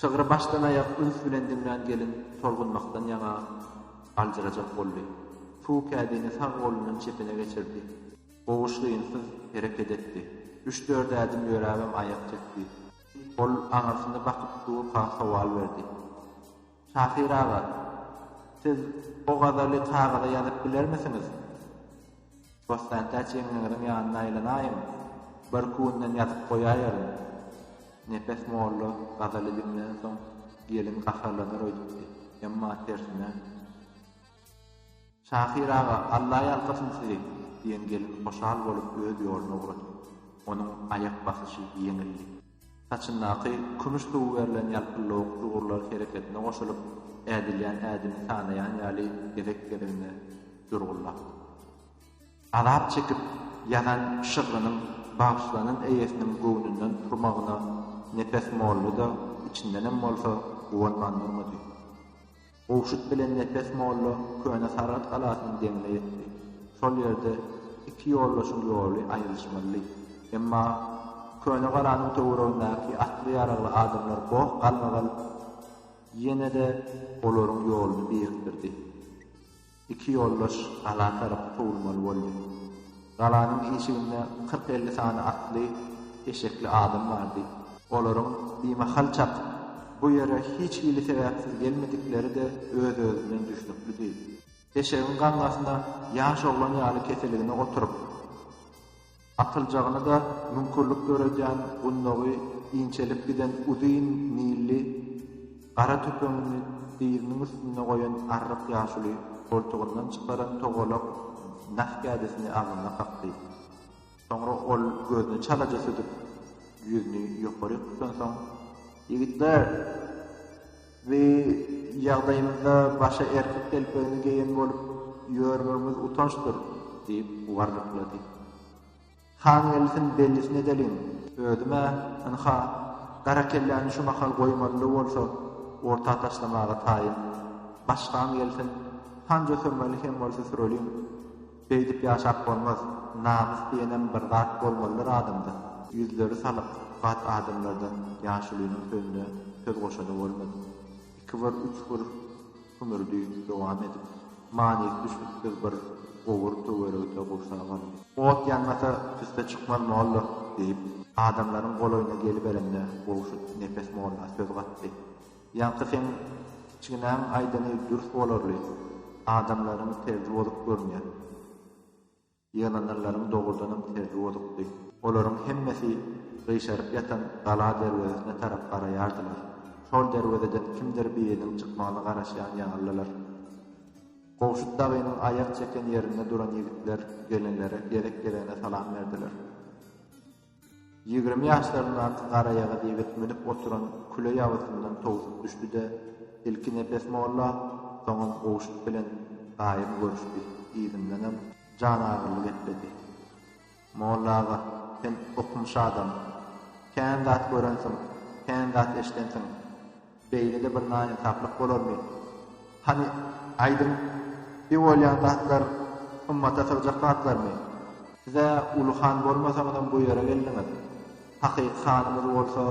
Şygry başdan-aýak üns bilen diňlän gelin tolgunmakdan ýaňa aljyrajak boldy. Suw kädini sag golundan çepine geçirdi. Goguş gyýynsyz hereket etdi. Üç-dört ädim ýöräbem aýak çekdi. Ol aňyrsyna bakyp Suwuka sowal berdi. Şahyr aga, siz o gazaly kagyza ýazyp bilermisiňiz? Bossantäç ýeňňeňiziň ýanyna aýlanaýyň, birküwünden ýazyp goýaýaryn. Nepes molla gazaly diňlänsoň, gelin gaharlanar öýdüpdi, emma tersine. Şahyr aga, Alla ýalkasyn sizi! diýen gelin hoşal bolup öz ýoluna ugrady. Onuň aýak basyşy ýeňildi. Saçyndaky kümüş suwy berlen ýalpyllawuk ugurlar hereketine goşulyp, ädilýän ädimi sanaýan ýaly gezek-gezegine durgullapdy. Azap çekip ýazan şygrynyň bagyşlanan eýesiniň göwnünden turmagyna Nepes molla-da içindenem bolsa guwanman durmady. Gowşut bilen Nepes molla köne Saragt galasynyň deňine ýetdi. Şol ýerde iki ýoldaşyň ýoly aýrylyşmalydy. Emma köne galanyň töweregindäki atly-ýaragly adamlar goh galmagal ýene-de olaryň ýoluny birikdirdi. Iki ýoldaş gala tarap kowulmaly boldy. Galanyň işiginde kyrk-elli sany atly, eşekli adam bardy. Olaryň bimahal çak bu ýere hiç hili sebäpsiz gelmedikleri-de öz-özünden düşnüklidi. Eşegiň gaňňasyna ýaş oglan ýaly keseligine oturyp. Atyljagyny-da müňkürlik döredýän gundagy inçelip giden uzyn nilli gara tüpeňini dyzynyň üstünde goýan arryk ýaşuly goltugyndan çykaran togalak nah kädisini agzyna kakdy. Soňra ol gözüni çalaja süzüp, ýüzüni ýokaryk tutansoň, Ýigitler! Bi ýagdaýymyzda başa erkek telpegini geýen bolup ýörmegimiz utançdyr, diýip, warlyklady. Han gelsin, bellisini edeliň! Özüm-ä, ynha, gara kelläni şu mahal goýmaly-la bolsa, orta taşlamaga taýyn. Başgam gelsin, hanja sürmeli hem bolsa süreliň! Beýdip ýaşap bolmaz, namys diýenem bir zat bolmalydyr adamda. Ýüzleri salyk, bat adamlardan ýaşulynyň sözüne söz goşany bolmady. Iki bir, üç bir hümürdi dowam edip, manysy düşnüksiz bir gowur töweregte gursap aldy. Ot ýanmasa, tüsse çykmaz molla, diýip, adamlaryň golaýyna geliberende, gowşut nepes molla söz gatdy. Ýaňky seň kiçginäň aýdany dürs bolarly, adamlaryň terzi bozuk görünýär. Ýygnananlaryň dogrudanam terzi bozukdy. Olaryň hemmesi gyşaryp ýatan gala derwezesine tarap garaýardylar. Şol derwezeden kimdir biriniň çykmagyna garaşýan ýalydylar. Gowşut dagynyň aýak çeken ýerinde duran ýigitler gelenlere gezek-gezegine salam berdiler. Ýigrimi ýaşlaryndaky garaýagyz ýigit münüp oturan küle ýabysyndan towsup düşdi-de, ilki Nepes molla, soňam Gowşut bilen gaýym görüşdi, yzyndanam janagyryly gepledi. Molla aga, sen okumyş adam. Kän zat görensiň, kän zat eşidensiň. Beýle-de bir naýynsaplyk bolarmy? Hany, aýdyň, bi bolýan zatlar ymmata sygjak zatlarmy? Siz-ä uly han bolmasaňyzam bu ýere geldiňiz. Hakyky hanymyz bolsa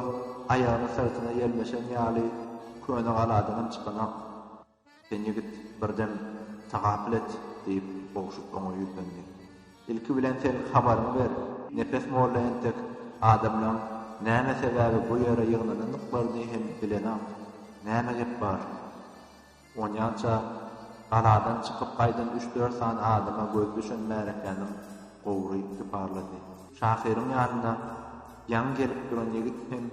aýagyny syrtyna ýelmeşen ýaly köne galadanam çykanok. Sen ýigit, bir dem tagapyl et, diýip, Ogşut oňa ýüzlendi. Ilki bilen sen habaryňy ber, Nepes molla entek adamlaryň näme sebäbi bu ýere ýygnanandyklaryny hem bilenok. Näme gep bar? Onýança galadan çykyp gaýdan üç-dört sany adama göz düşen märekäniň gowry iki parlady. Şahyryň ýanyna ýaňy gelip duran ýigit hem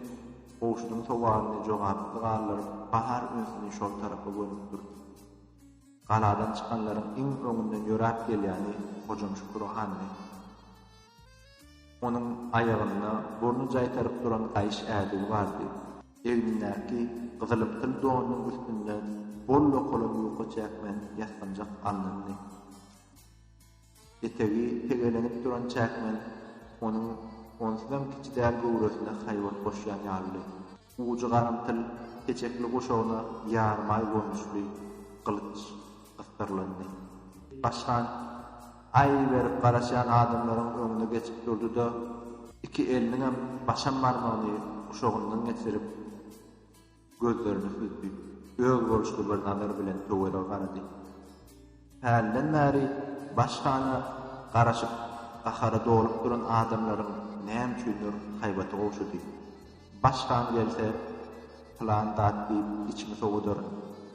Gowşudyň sowalyny jogapsyz galdyryp, Bahar ünsüni şol tarapa gönükdirdi. Galadan çykanlaryň iň öňünden ýöräp gelýäni Hojam Şükür handy. Onuň aýagynda burny jaýtaryp duran gaýyş ädigi bardy. Egnindäki gyzylymtyl donunyň üstünde bol-lokala ýuka çäkmen ýasganjak alnyndy. Etegi pegelenip duran çäkmen onuň onsuzam kiçi däl göwresine haýbat goşýan ýalydy. Ujy garymtyl peçekli guşagyna ýarymaý görnüşli gylyç gysdyrlandy. Baş han aý berip garaşýan adamlaryň öňüne geçip durdy-da, iki eliniňem başam barmagyny guşagyndan geçirip. Gözlerini süzdi. Özboluşly bir nazar bilen töwerege garady. Hälden bäri baş hana garaşyp, gahara dolup duran adamlaryň näme üçindir haýbaty gowşady. Baş han gelse, pylan zat diýip içimi sowudar.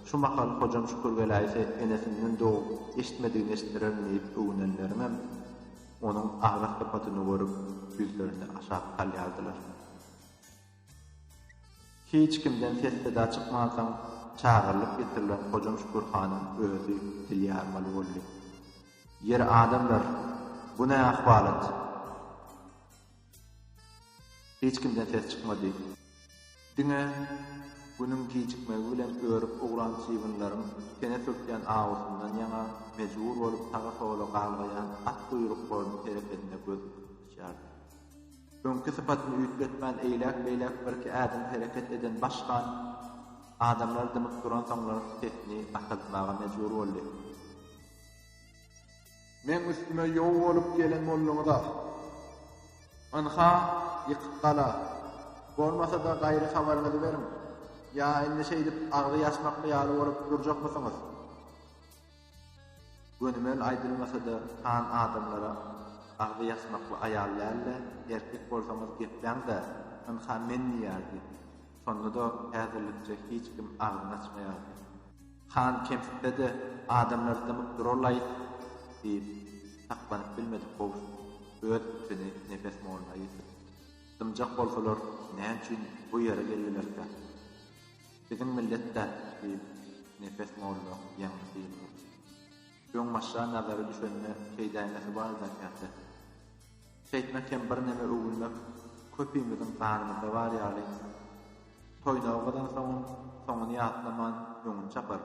Şu mahal Hojam Şükür geläýse enesinden dogup, eşitmedigini eşitdirerin diýip öwünenleriňem onuň agras sypatyny görüp, ýüzlerini aşak salýardylar. Hiç kimden ses-seda çykmansoň, çagyrylyp getirilen Hojam Şükür hanyň özi dil ýarmaly boldy. Ýeri adamlar, bu ne ahwalat? Hiç kimden ses çykmady. Diňe günüň gijikmegi bilen örüp ugran çybynlaryň tene sürtýän awusyndan ýaňa mejbur bolup saga-sola galgaýan at guýruklarynyň hereketine göz dikip tutuşýardy. Öňki sypatyny üýtgetmän eýläk-beýläk birki ädim hereket eden baş han adamlar dymyp duransoňlar sesini basaltmaga mejbur boldy. Meň üstüme ýow bolup gelen bolduňyz-a. Ynha, ýykyk gala. Bolmasa-da gaýry habaryňyzy beriň. Ýa indi şeýdip agzy ýaçmakmy ýaly bolup durjakmysyňyz? Gönümel aýdylmasa-da, han adamlara agzy ýasmakly aýal däldi. Erkek bolsaňyz gepläň-dä, ynha men diýerdi. Şonda-da häzirlikçe hiç kim agzyny açmaýardy. Han kemsitse-de, adamlar dymyp durarlaý diýip, saklanyp bilmedi Kowşut öz içini Nepes molla ýetirdi. Dymjak bolsalar, näçün bu ýere geldilerkä? Biziň millet-dä, diýip, Nepes molla ýeňňe syýyldyp, öňbaşa nazary düşende şeýdäýmesi bar zekäte. Şeýtmek hem birneme öwünmek köpimiziň ganymyzda bar ýaly. Toýnagy gazansoňam, soňuny ýatlaman, öňüni çapar.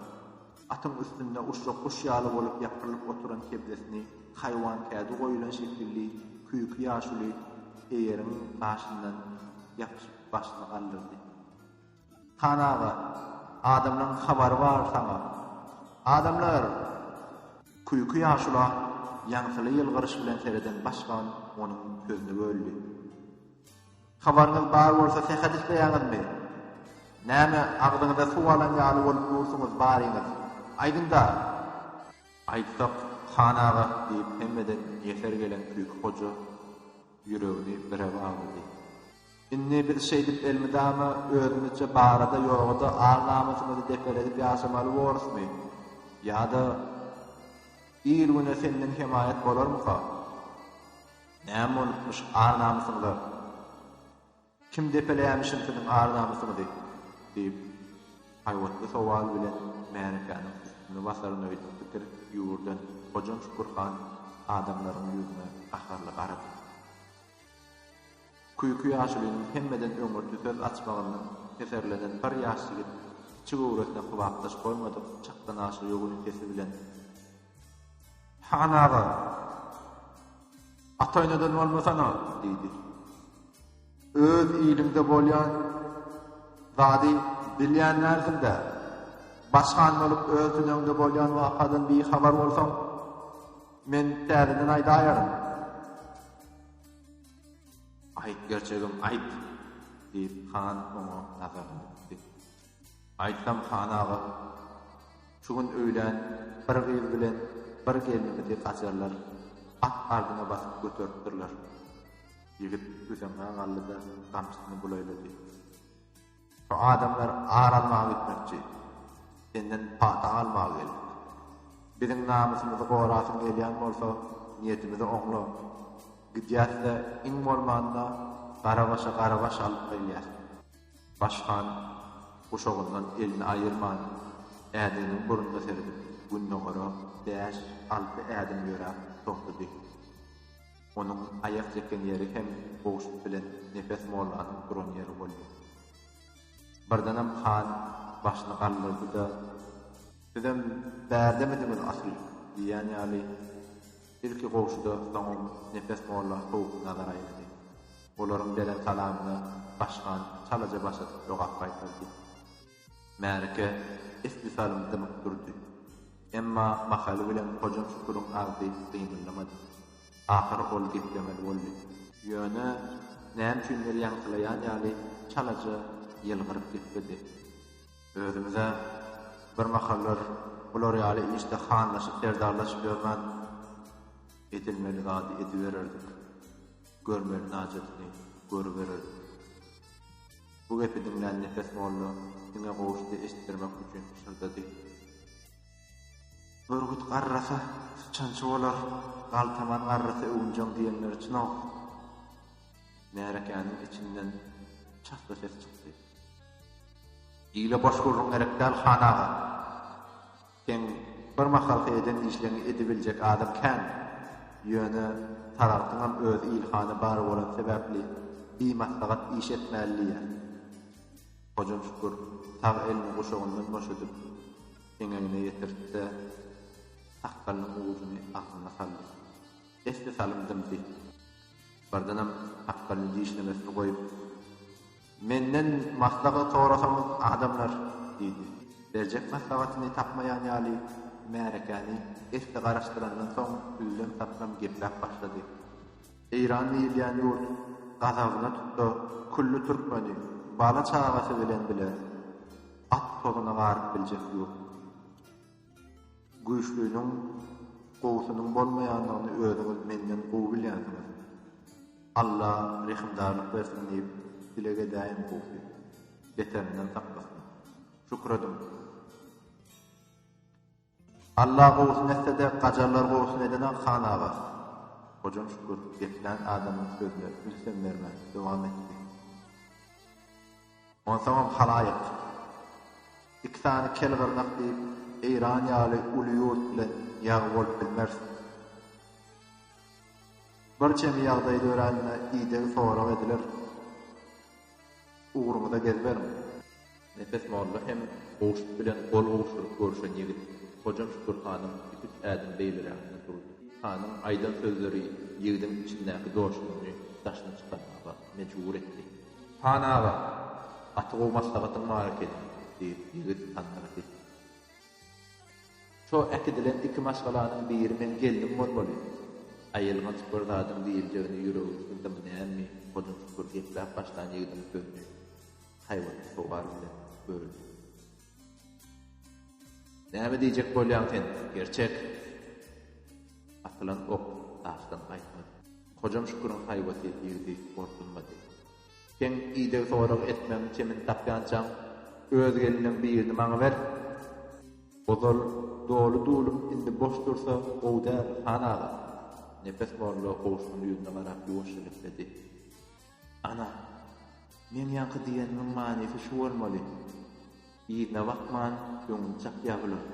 Atyň üstünde uçjak guş ýaly bolup ýapyrylyp oturan kebzesini haýwan kädi goýulan şekilli küýki ýaşuly eýeriň gaşyndan ýapyşyp başyny galdyrdy. Han aga, adamlaň habary bar saňa. Adamlar! Küýki ýaşula ýaňsyly ýylgyryş bilen sereden başgan onuň sözüni böldi. Habaryňyz bar bolsa sähet isleýäňizmi? Näme agzyňyza suw alan ýaly bolup dursuňyz baryňyz, aýdyňda! Aýtsak, han aga, diýip hemmeden ýeser gelen Küýki hoja ýüregini bire baglady. Indi biz şeýdip elmydama özümizçe barada ýogada ar-namysymyzy depeledip ýaşamaly borusmy? Ýa-da il-güne senden hemaýat bolarmyka? Näme bolupmyş ar-namysyňyza? Kim depeleýämişin siziň ar-namysyňyzy? diýip, haýbatly sowal bilen märekäniň üstüni basaryn öýdüp pikir ýüwürden Hojam Şükür han adamlaryň ýüzüne gaharly garady. Küýki ýaşulynyň hemmeden öňürti söz açmagyndan heserlenen bir ýaş ýigit kiçi göwresine kybapdaş bolmadyk çakdanaşly ýogyn sesi bilen. Han aga! Ataýnadan bolmasana! diýdi. Öz iliňde bolýan zady bilýän dälsiň-dä! Baş han bolup öz tüneňde bolýan wakadan bihabar bolsaň, men täzeden aýdaýaryn. Aýt, gerçegem aýt! diýip, han oňa nazaryny dikdi. Aýtsam, han aga, şu gün öýlän bir gyz bilen bir gelnimizi gajarlar at ardyna basyp göteripdirler. Ýigit büseňňä galdy-da, gamçysyny bulaýlady. Şu adamlar ar almaga gitmekçi. Senden pata almaga geldik. Biziň namysymyzy gorasyň gelýän bolsa, niýetimizi oňla. Gidýäs-de, iň bolmanda, Garabaşa garabaş alyp gelýäs. Baş han guşagyndan elini aýyrman, ädiginiň burnuna seredip, gündogara bäş, alty ädim ýöräp togtady. Onuň aýak çeken ýeri hem Gowşut bilen Nepes mollanyň duran ýeri boldy. Birdenem han başyny galdyrdy-da, Sizem bärdemidiňiz asyl? diýýän ýaly, ilki Gowşuda, soňam Nepes molla sowuk nazar aýlady. Olaryň beren salamyna Başhan çalaja baş atyp jogap gaýtardy. Märeke esli salym dymyp durdy. Emma mahaly bilen Hojam Şüküriň agzy gymyldamady. Ahyry ol geplemeli boldy. Ýöne, näme üçindir ýaňsylaýan ýaly çalaja ýylgyryp gepledi. Özümiz-ä birmahallar bular ýaly işde hanlaşyp-serdarlaşyp ýörmändik. Edilmeli zady edibererdik. Görmeli hajatyny görüberer. Bu gepi diňlän Nepes molla diňe gowuşdy eşitdirmek üçin pyşyrdady. Bürgüt garrasa, syçançy bolar, galtaman garrasa öwünjeň diýenleri çyn-ow! Märekäniň içinden çasly ses çykdy. Ile boş gürrüň gerek däl, han aga! Seň bir mahalky eden işleňi edibiljek adam kän. Ýöne Saragtyňam öz ilhany bar bolan sebäpli bimaslahat iş etmäli diýýär. Hojam Şükür sag elini guşagyndan boşadyp, eňegine ýetirtdi-de, sakgalynyň ujuny agzyna saldy. Esli salym dymdy. Birdenem sakgalyny dişlemesini goýup, Menden maslahat sorasaňyz adamlar, diýdi. Berjek maslahatyny tapmaýan ýaly märekäni esli garaşdyrandan soň üzlem-saplam gepläp başlady. Eýran diýilýän ýurt gazabyna tutsa külli türkmeni bala-çagasy bilen bile at tozuna garyp biljek ýurt. Güýçliniň gowusynyň bolmaýandygyny özüňiz menden gowy bilýänsiňiz. Alla rehimdarlyk bersin diýip dileg edäýiň gowusy. Beterinden saklasyn. Şükür ediň. Alla gowusyny etsede gajarlar gowusyny edene han aga. Hojam Şükür geplän adamyň sözüne ünsem bermän dowam etdi. Onsoňam halaýyk, iki sany kel gyrnak diýip, Eýran ýaly uly ýurt bilen ýag bolup bilmersiň. Bir çemi ýagdaý dörände idegi sorag ediler. Ugruňyza gezberiň. Nepes molla hem Gowşut bilen gol gowşuryp görşen ýigit. Hojam Şükür hanym iki-üç ädim beýleräkde durdy. Hanyň aýdan sözleri ýigidiň içindäki joşguny daşyna çykarmaga mejbur etdi. Han aga, gaty gowy maslahatyň bar ekeni, diýip, ýigit hanyna sesleniýär. Şo äkidilen iki maşgalanyň biri meň gelnim bolmaly. Aýylganç bir zadyň diýiljegine ýüregi sygdymy nämemi, hoja çukur gepläp başlan ýigidiň sözüni haýbatly sowal bilen böldi. Näme diýjek bolýaň sen, Gerçek? Atylan ok daşdan gaýtmady. Hojam Şüküriň haýbaty ýigidi gorkuzmady. Seň ideg sorag etmegiň çemini tapýançaň, öz gelniň birini maňa ber! Ozal doly dulum indi boş dursa gowy däl, han aga? Nepes molla gowşunyň ýüzüne garap ýuwaşja gepledi. Ana, meň ýaňky diýenimiň manysy şu bolmaly. Yzyna bakman, öňüni çapýar bular.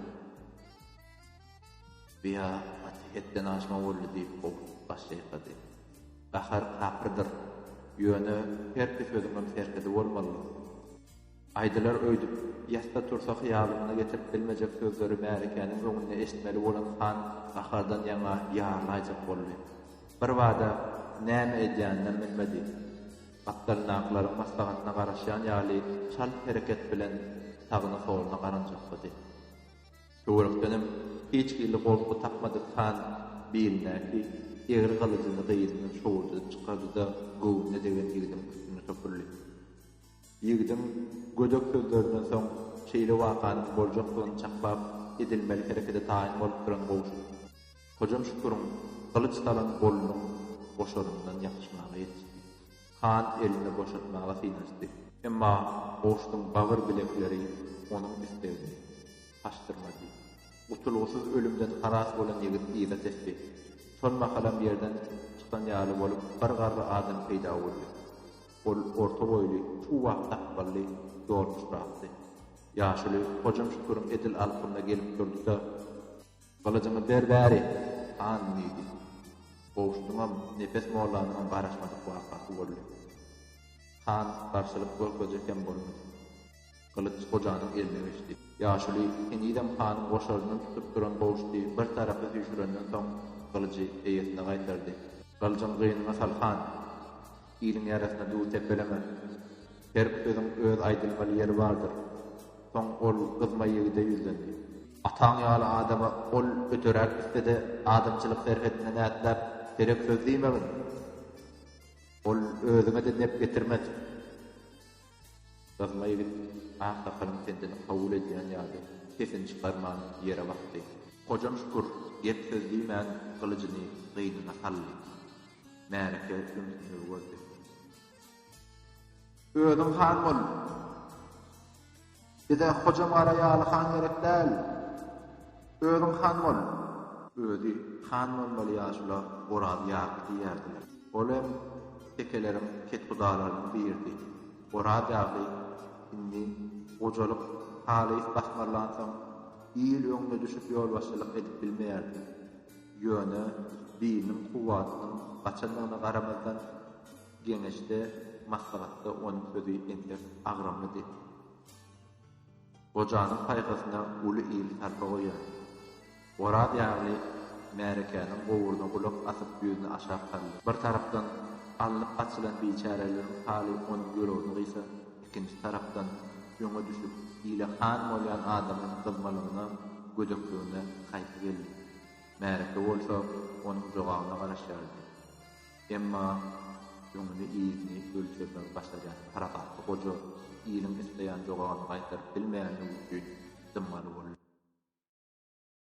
Biýa gaty hetden aşma boldy diýip, Oguz baş çaýkady. Gahar kapyrdyr. Ýöne herki sözüňem serhedi bolmalydyr. Aýdylar öýdüp, ýatsa tursa hyýalyňda getirip bilmejek sözleri märekäniň öňünde eşitmeli bolan han gahardan ýaňa ýarlaýjak boldy. Birbada näme edýäninem bilmedi. Gapdalyndakylaryň maslahatyna garaşýan ýaly çalt hereket bilen sagyna-soluna garanjaklady. Töwerekdenem hiç hili gorky tapmadyk han bilindäki egri gylyjyny gyzyndan şowurdadyp çykardy-da, göwnüne degen ýigidiň üstüne süpürli. Ýigidiň gödek sözlerinden soň şeýle wakanyň boljakdygyny çakbap edilmeli herekede taýyn bolup duran Gowşut, Hojam Şüküriň gylyç salan golunyň goşaryndan ýapyşmaga ýetişdi. Han elini boşatmaga synanyşdy. Emma Gowşutyň bagyr bilekleri onuň islegini haşdyrmady. Gutulgysyz ölümden halas bolan ýigit yza tesdi. Şol mahalam ýerden çykan ýaly bolup bir garry adam peýda boldy. Ol orta boýly, çuwak sakgally, ýoluşrakdy. Ýaşuly Hojam Şüküriň edil alkymyna gelip durdy-da, Gylyjyňy ber bäri, han! diýdi. Gowşudyňam, Nepes mollanyňam garaşmadyk wakasy boldy. Han garşylyk görkezjek hem bolmady. Gylyç Hojanyň eline geçdi. Ýaşuly henizem hanyň goşaryndan tutup duran gowşudy bir tarapa süýşürenden soň, gylyjy eýesine gaýtardy. Gylyjyňy gynyňa sal, han! Iliň ýarasyna duw sepeleme. Her sözüň öz aýdylmaly ýeri bardyr. Soň ol gyzma ýigide ýüzlendi. Ataň ýaly adama ol öteräk gitse-de adamçylyk serhetine nätläp serek söz diýmegin. Ol özüňe-de nep getirmez. Gyzma ýigit aksakalyň pendini kabul edýän ýaly sesini çykarman ýere bakdy. Hojam Şükür gep-söz diýmän gylyjyny gynyna saldy. Märeke sümsügi boldy. Özüň han bol. Bize Hoja Mara ýaly han gerek däl. Özüň han bol. Özi han bolmaly ýaşula Oraz ýagy diýerdiler. Ol hem tekeleriň kethudalarynyň biridi. Oraz ýagy indi gojalyk halys basmarlansoň, il öňüne düşüp ýolbaşçylyk edip bilmeýärdi. Ýöne diliniň kuwwatynyň gaçandygyna garamazdan, geňeşde, maslahatda onuň sözi entek agramlydy. Gojanyň paýhasyna uly il sarpa goýýar. Oraz ýagly märekäniň gowuryna gulak asyp ýüzüni aşak saldy. Bir tarapdan, alnyp gaçylan biçäreleriň haly onuň ýüregini gysa. Ikinji tarapdan, öňe düşüp, ile han bolýan adamyň gyzmalygyna, gödekligine haýpy geldi. Märeke bolsa onuň jogabyna garaşýardy. Emma öňüni-yzyny ölçermegi başarýan parasatly goja iliň isleýän jogabyny gaýtaryp bilmeýändigi üçin dymmaly boldy.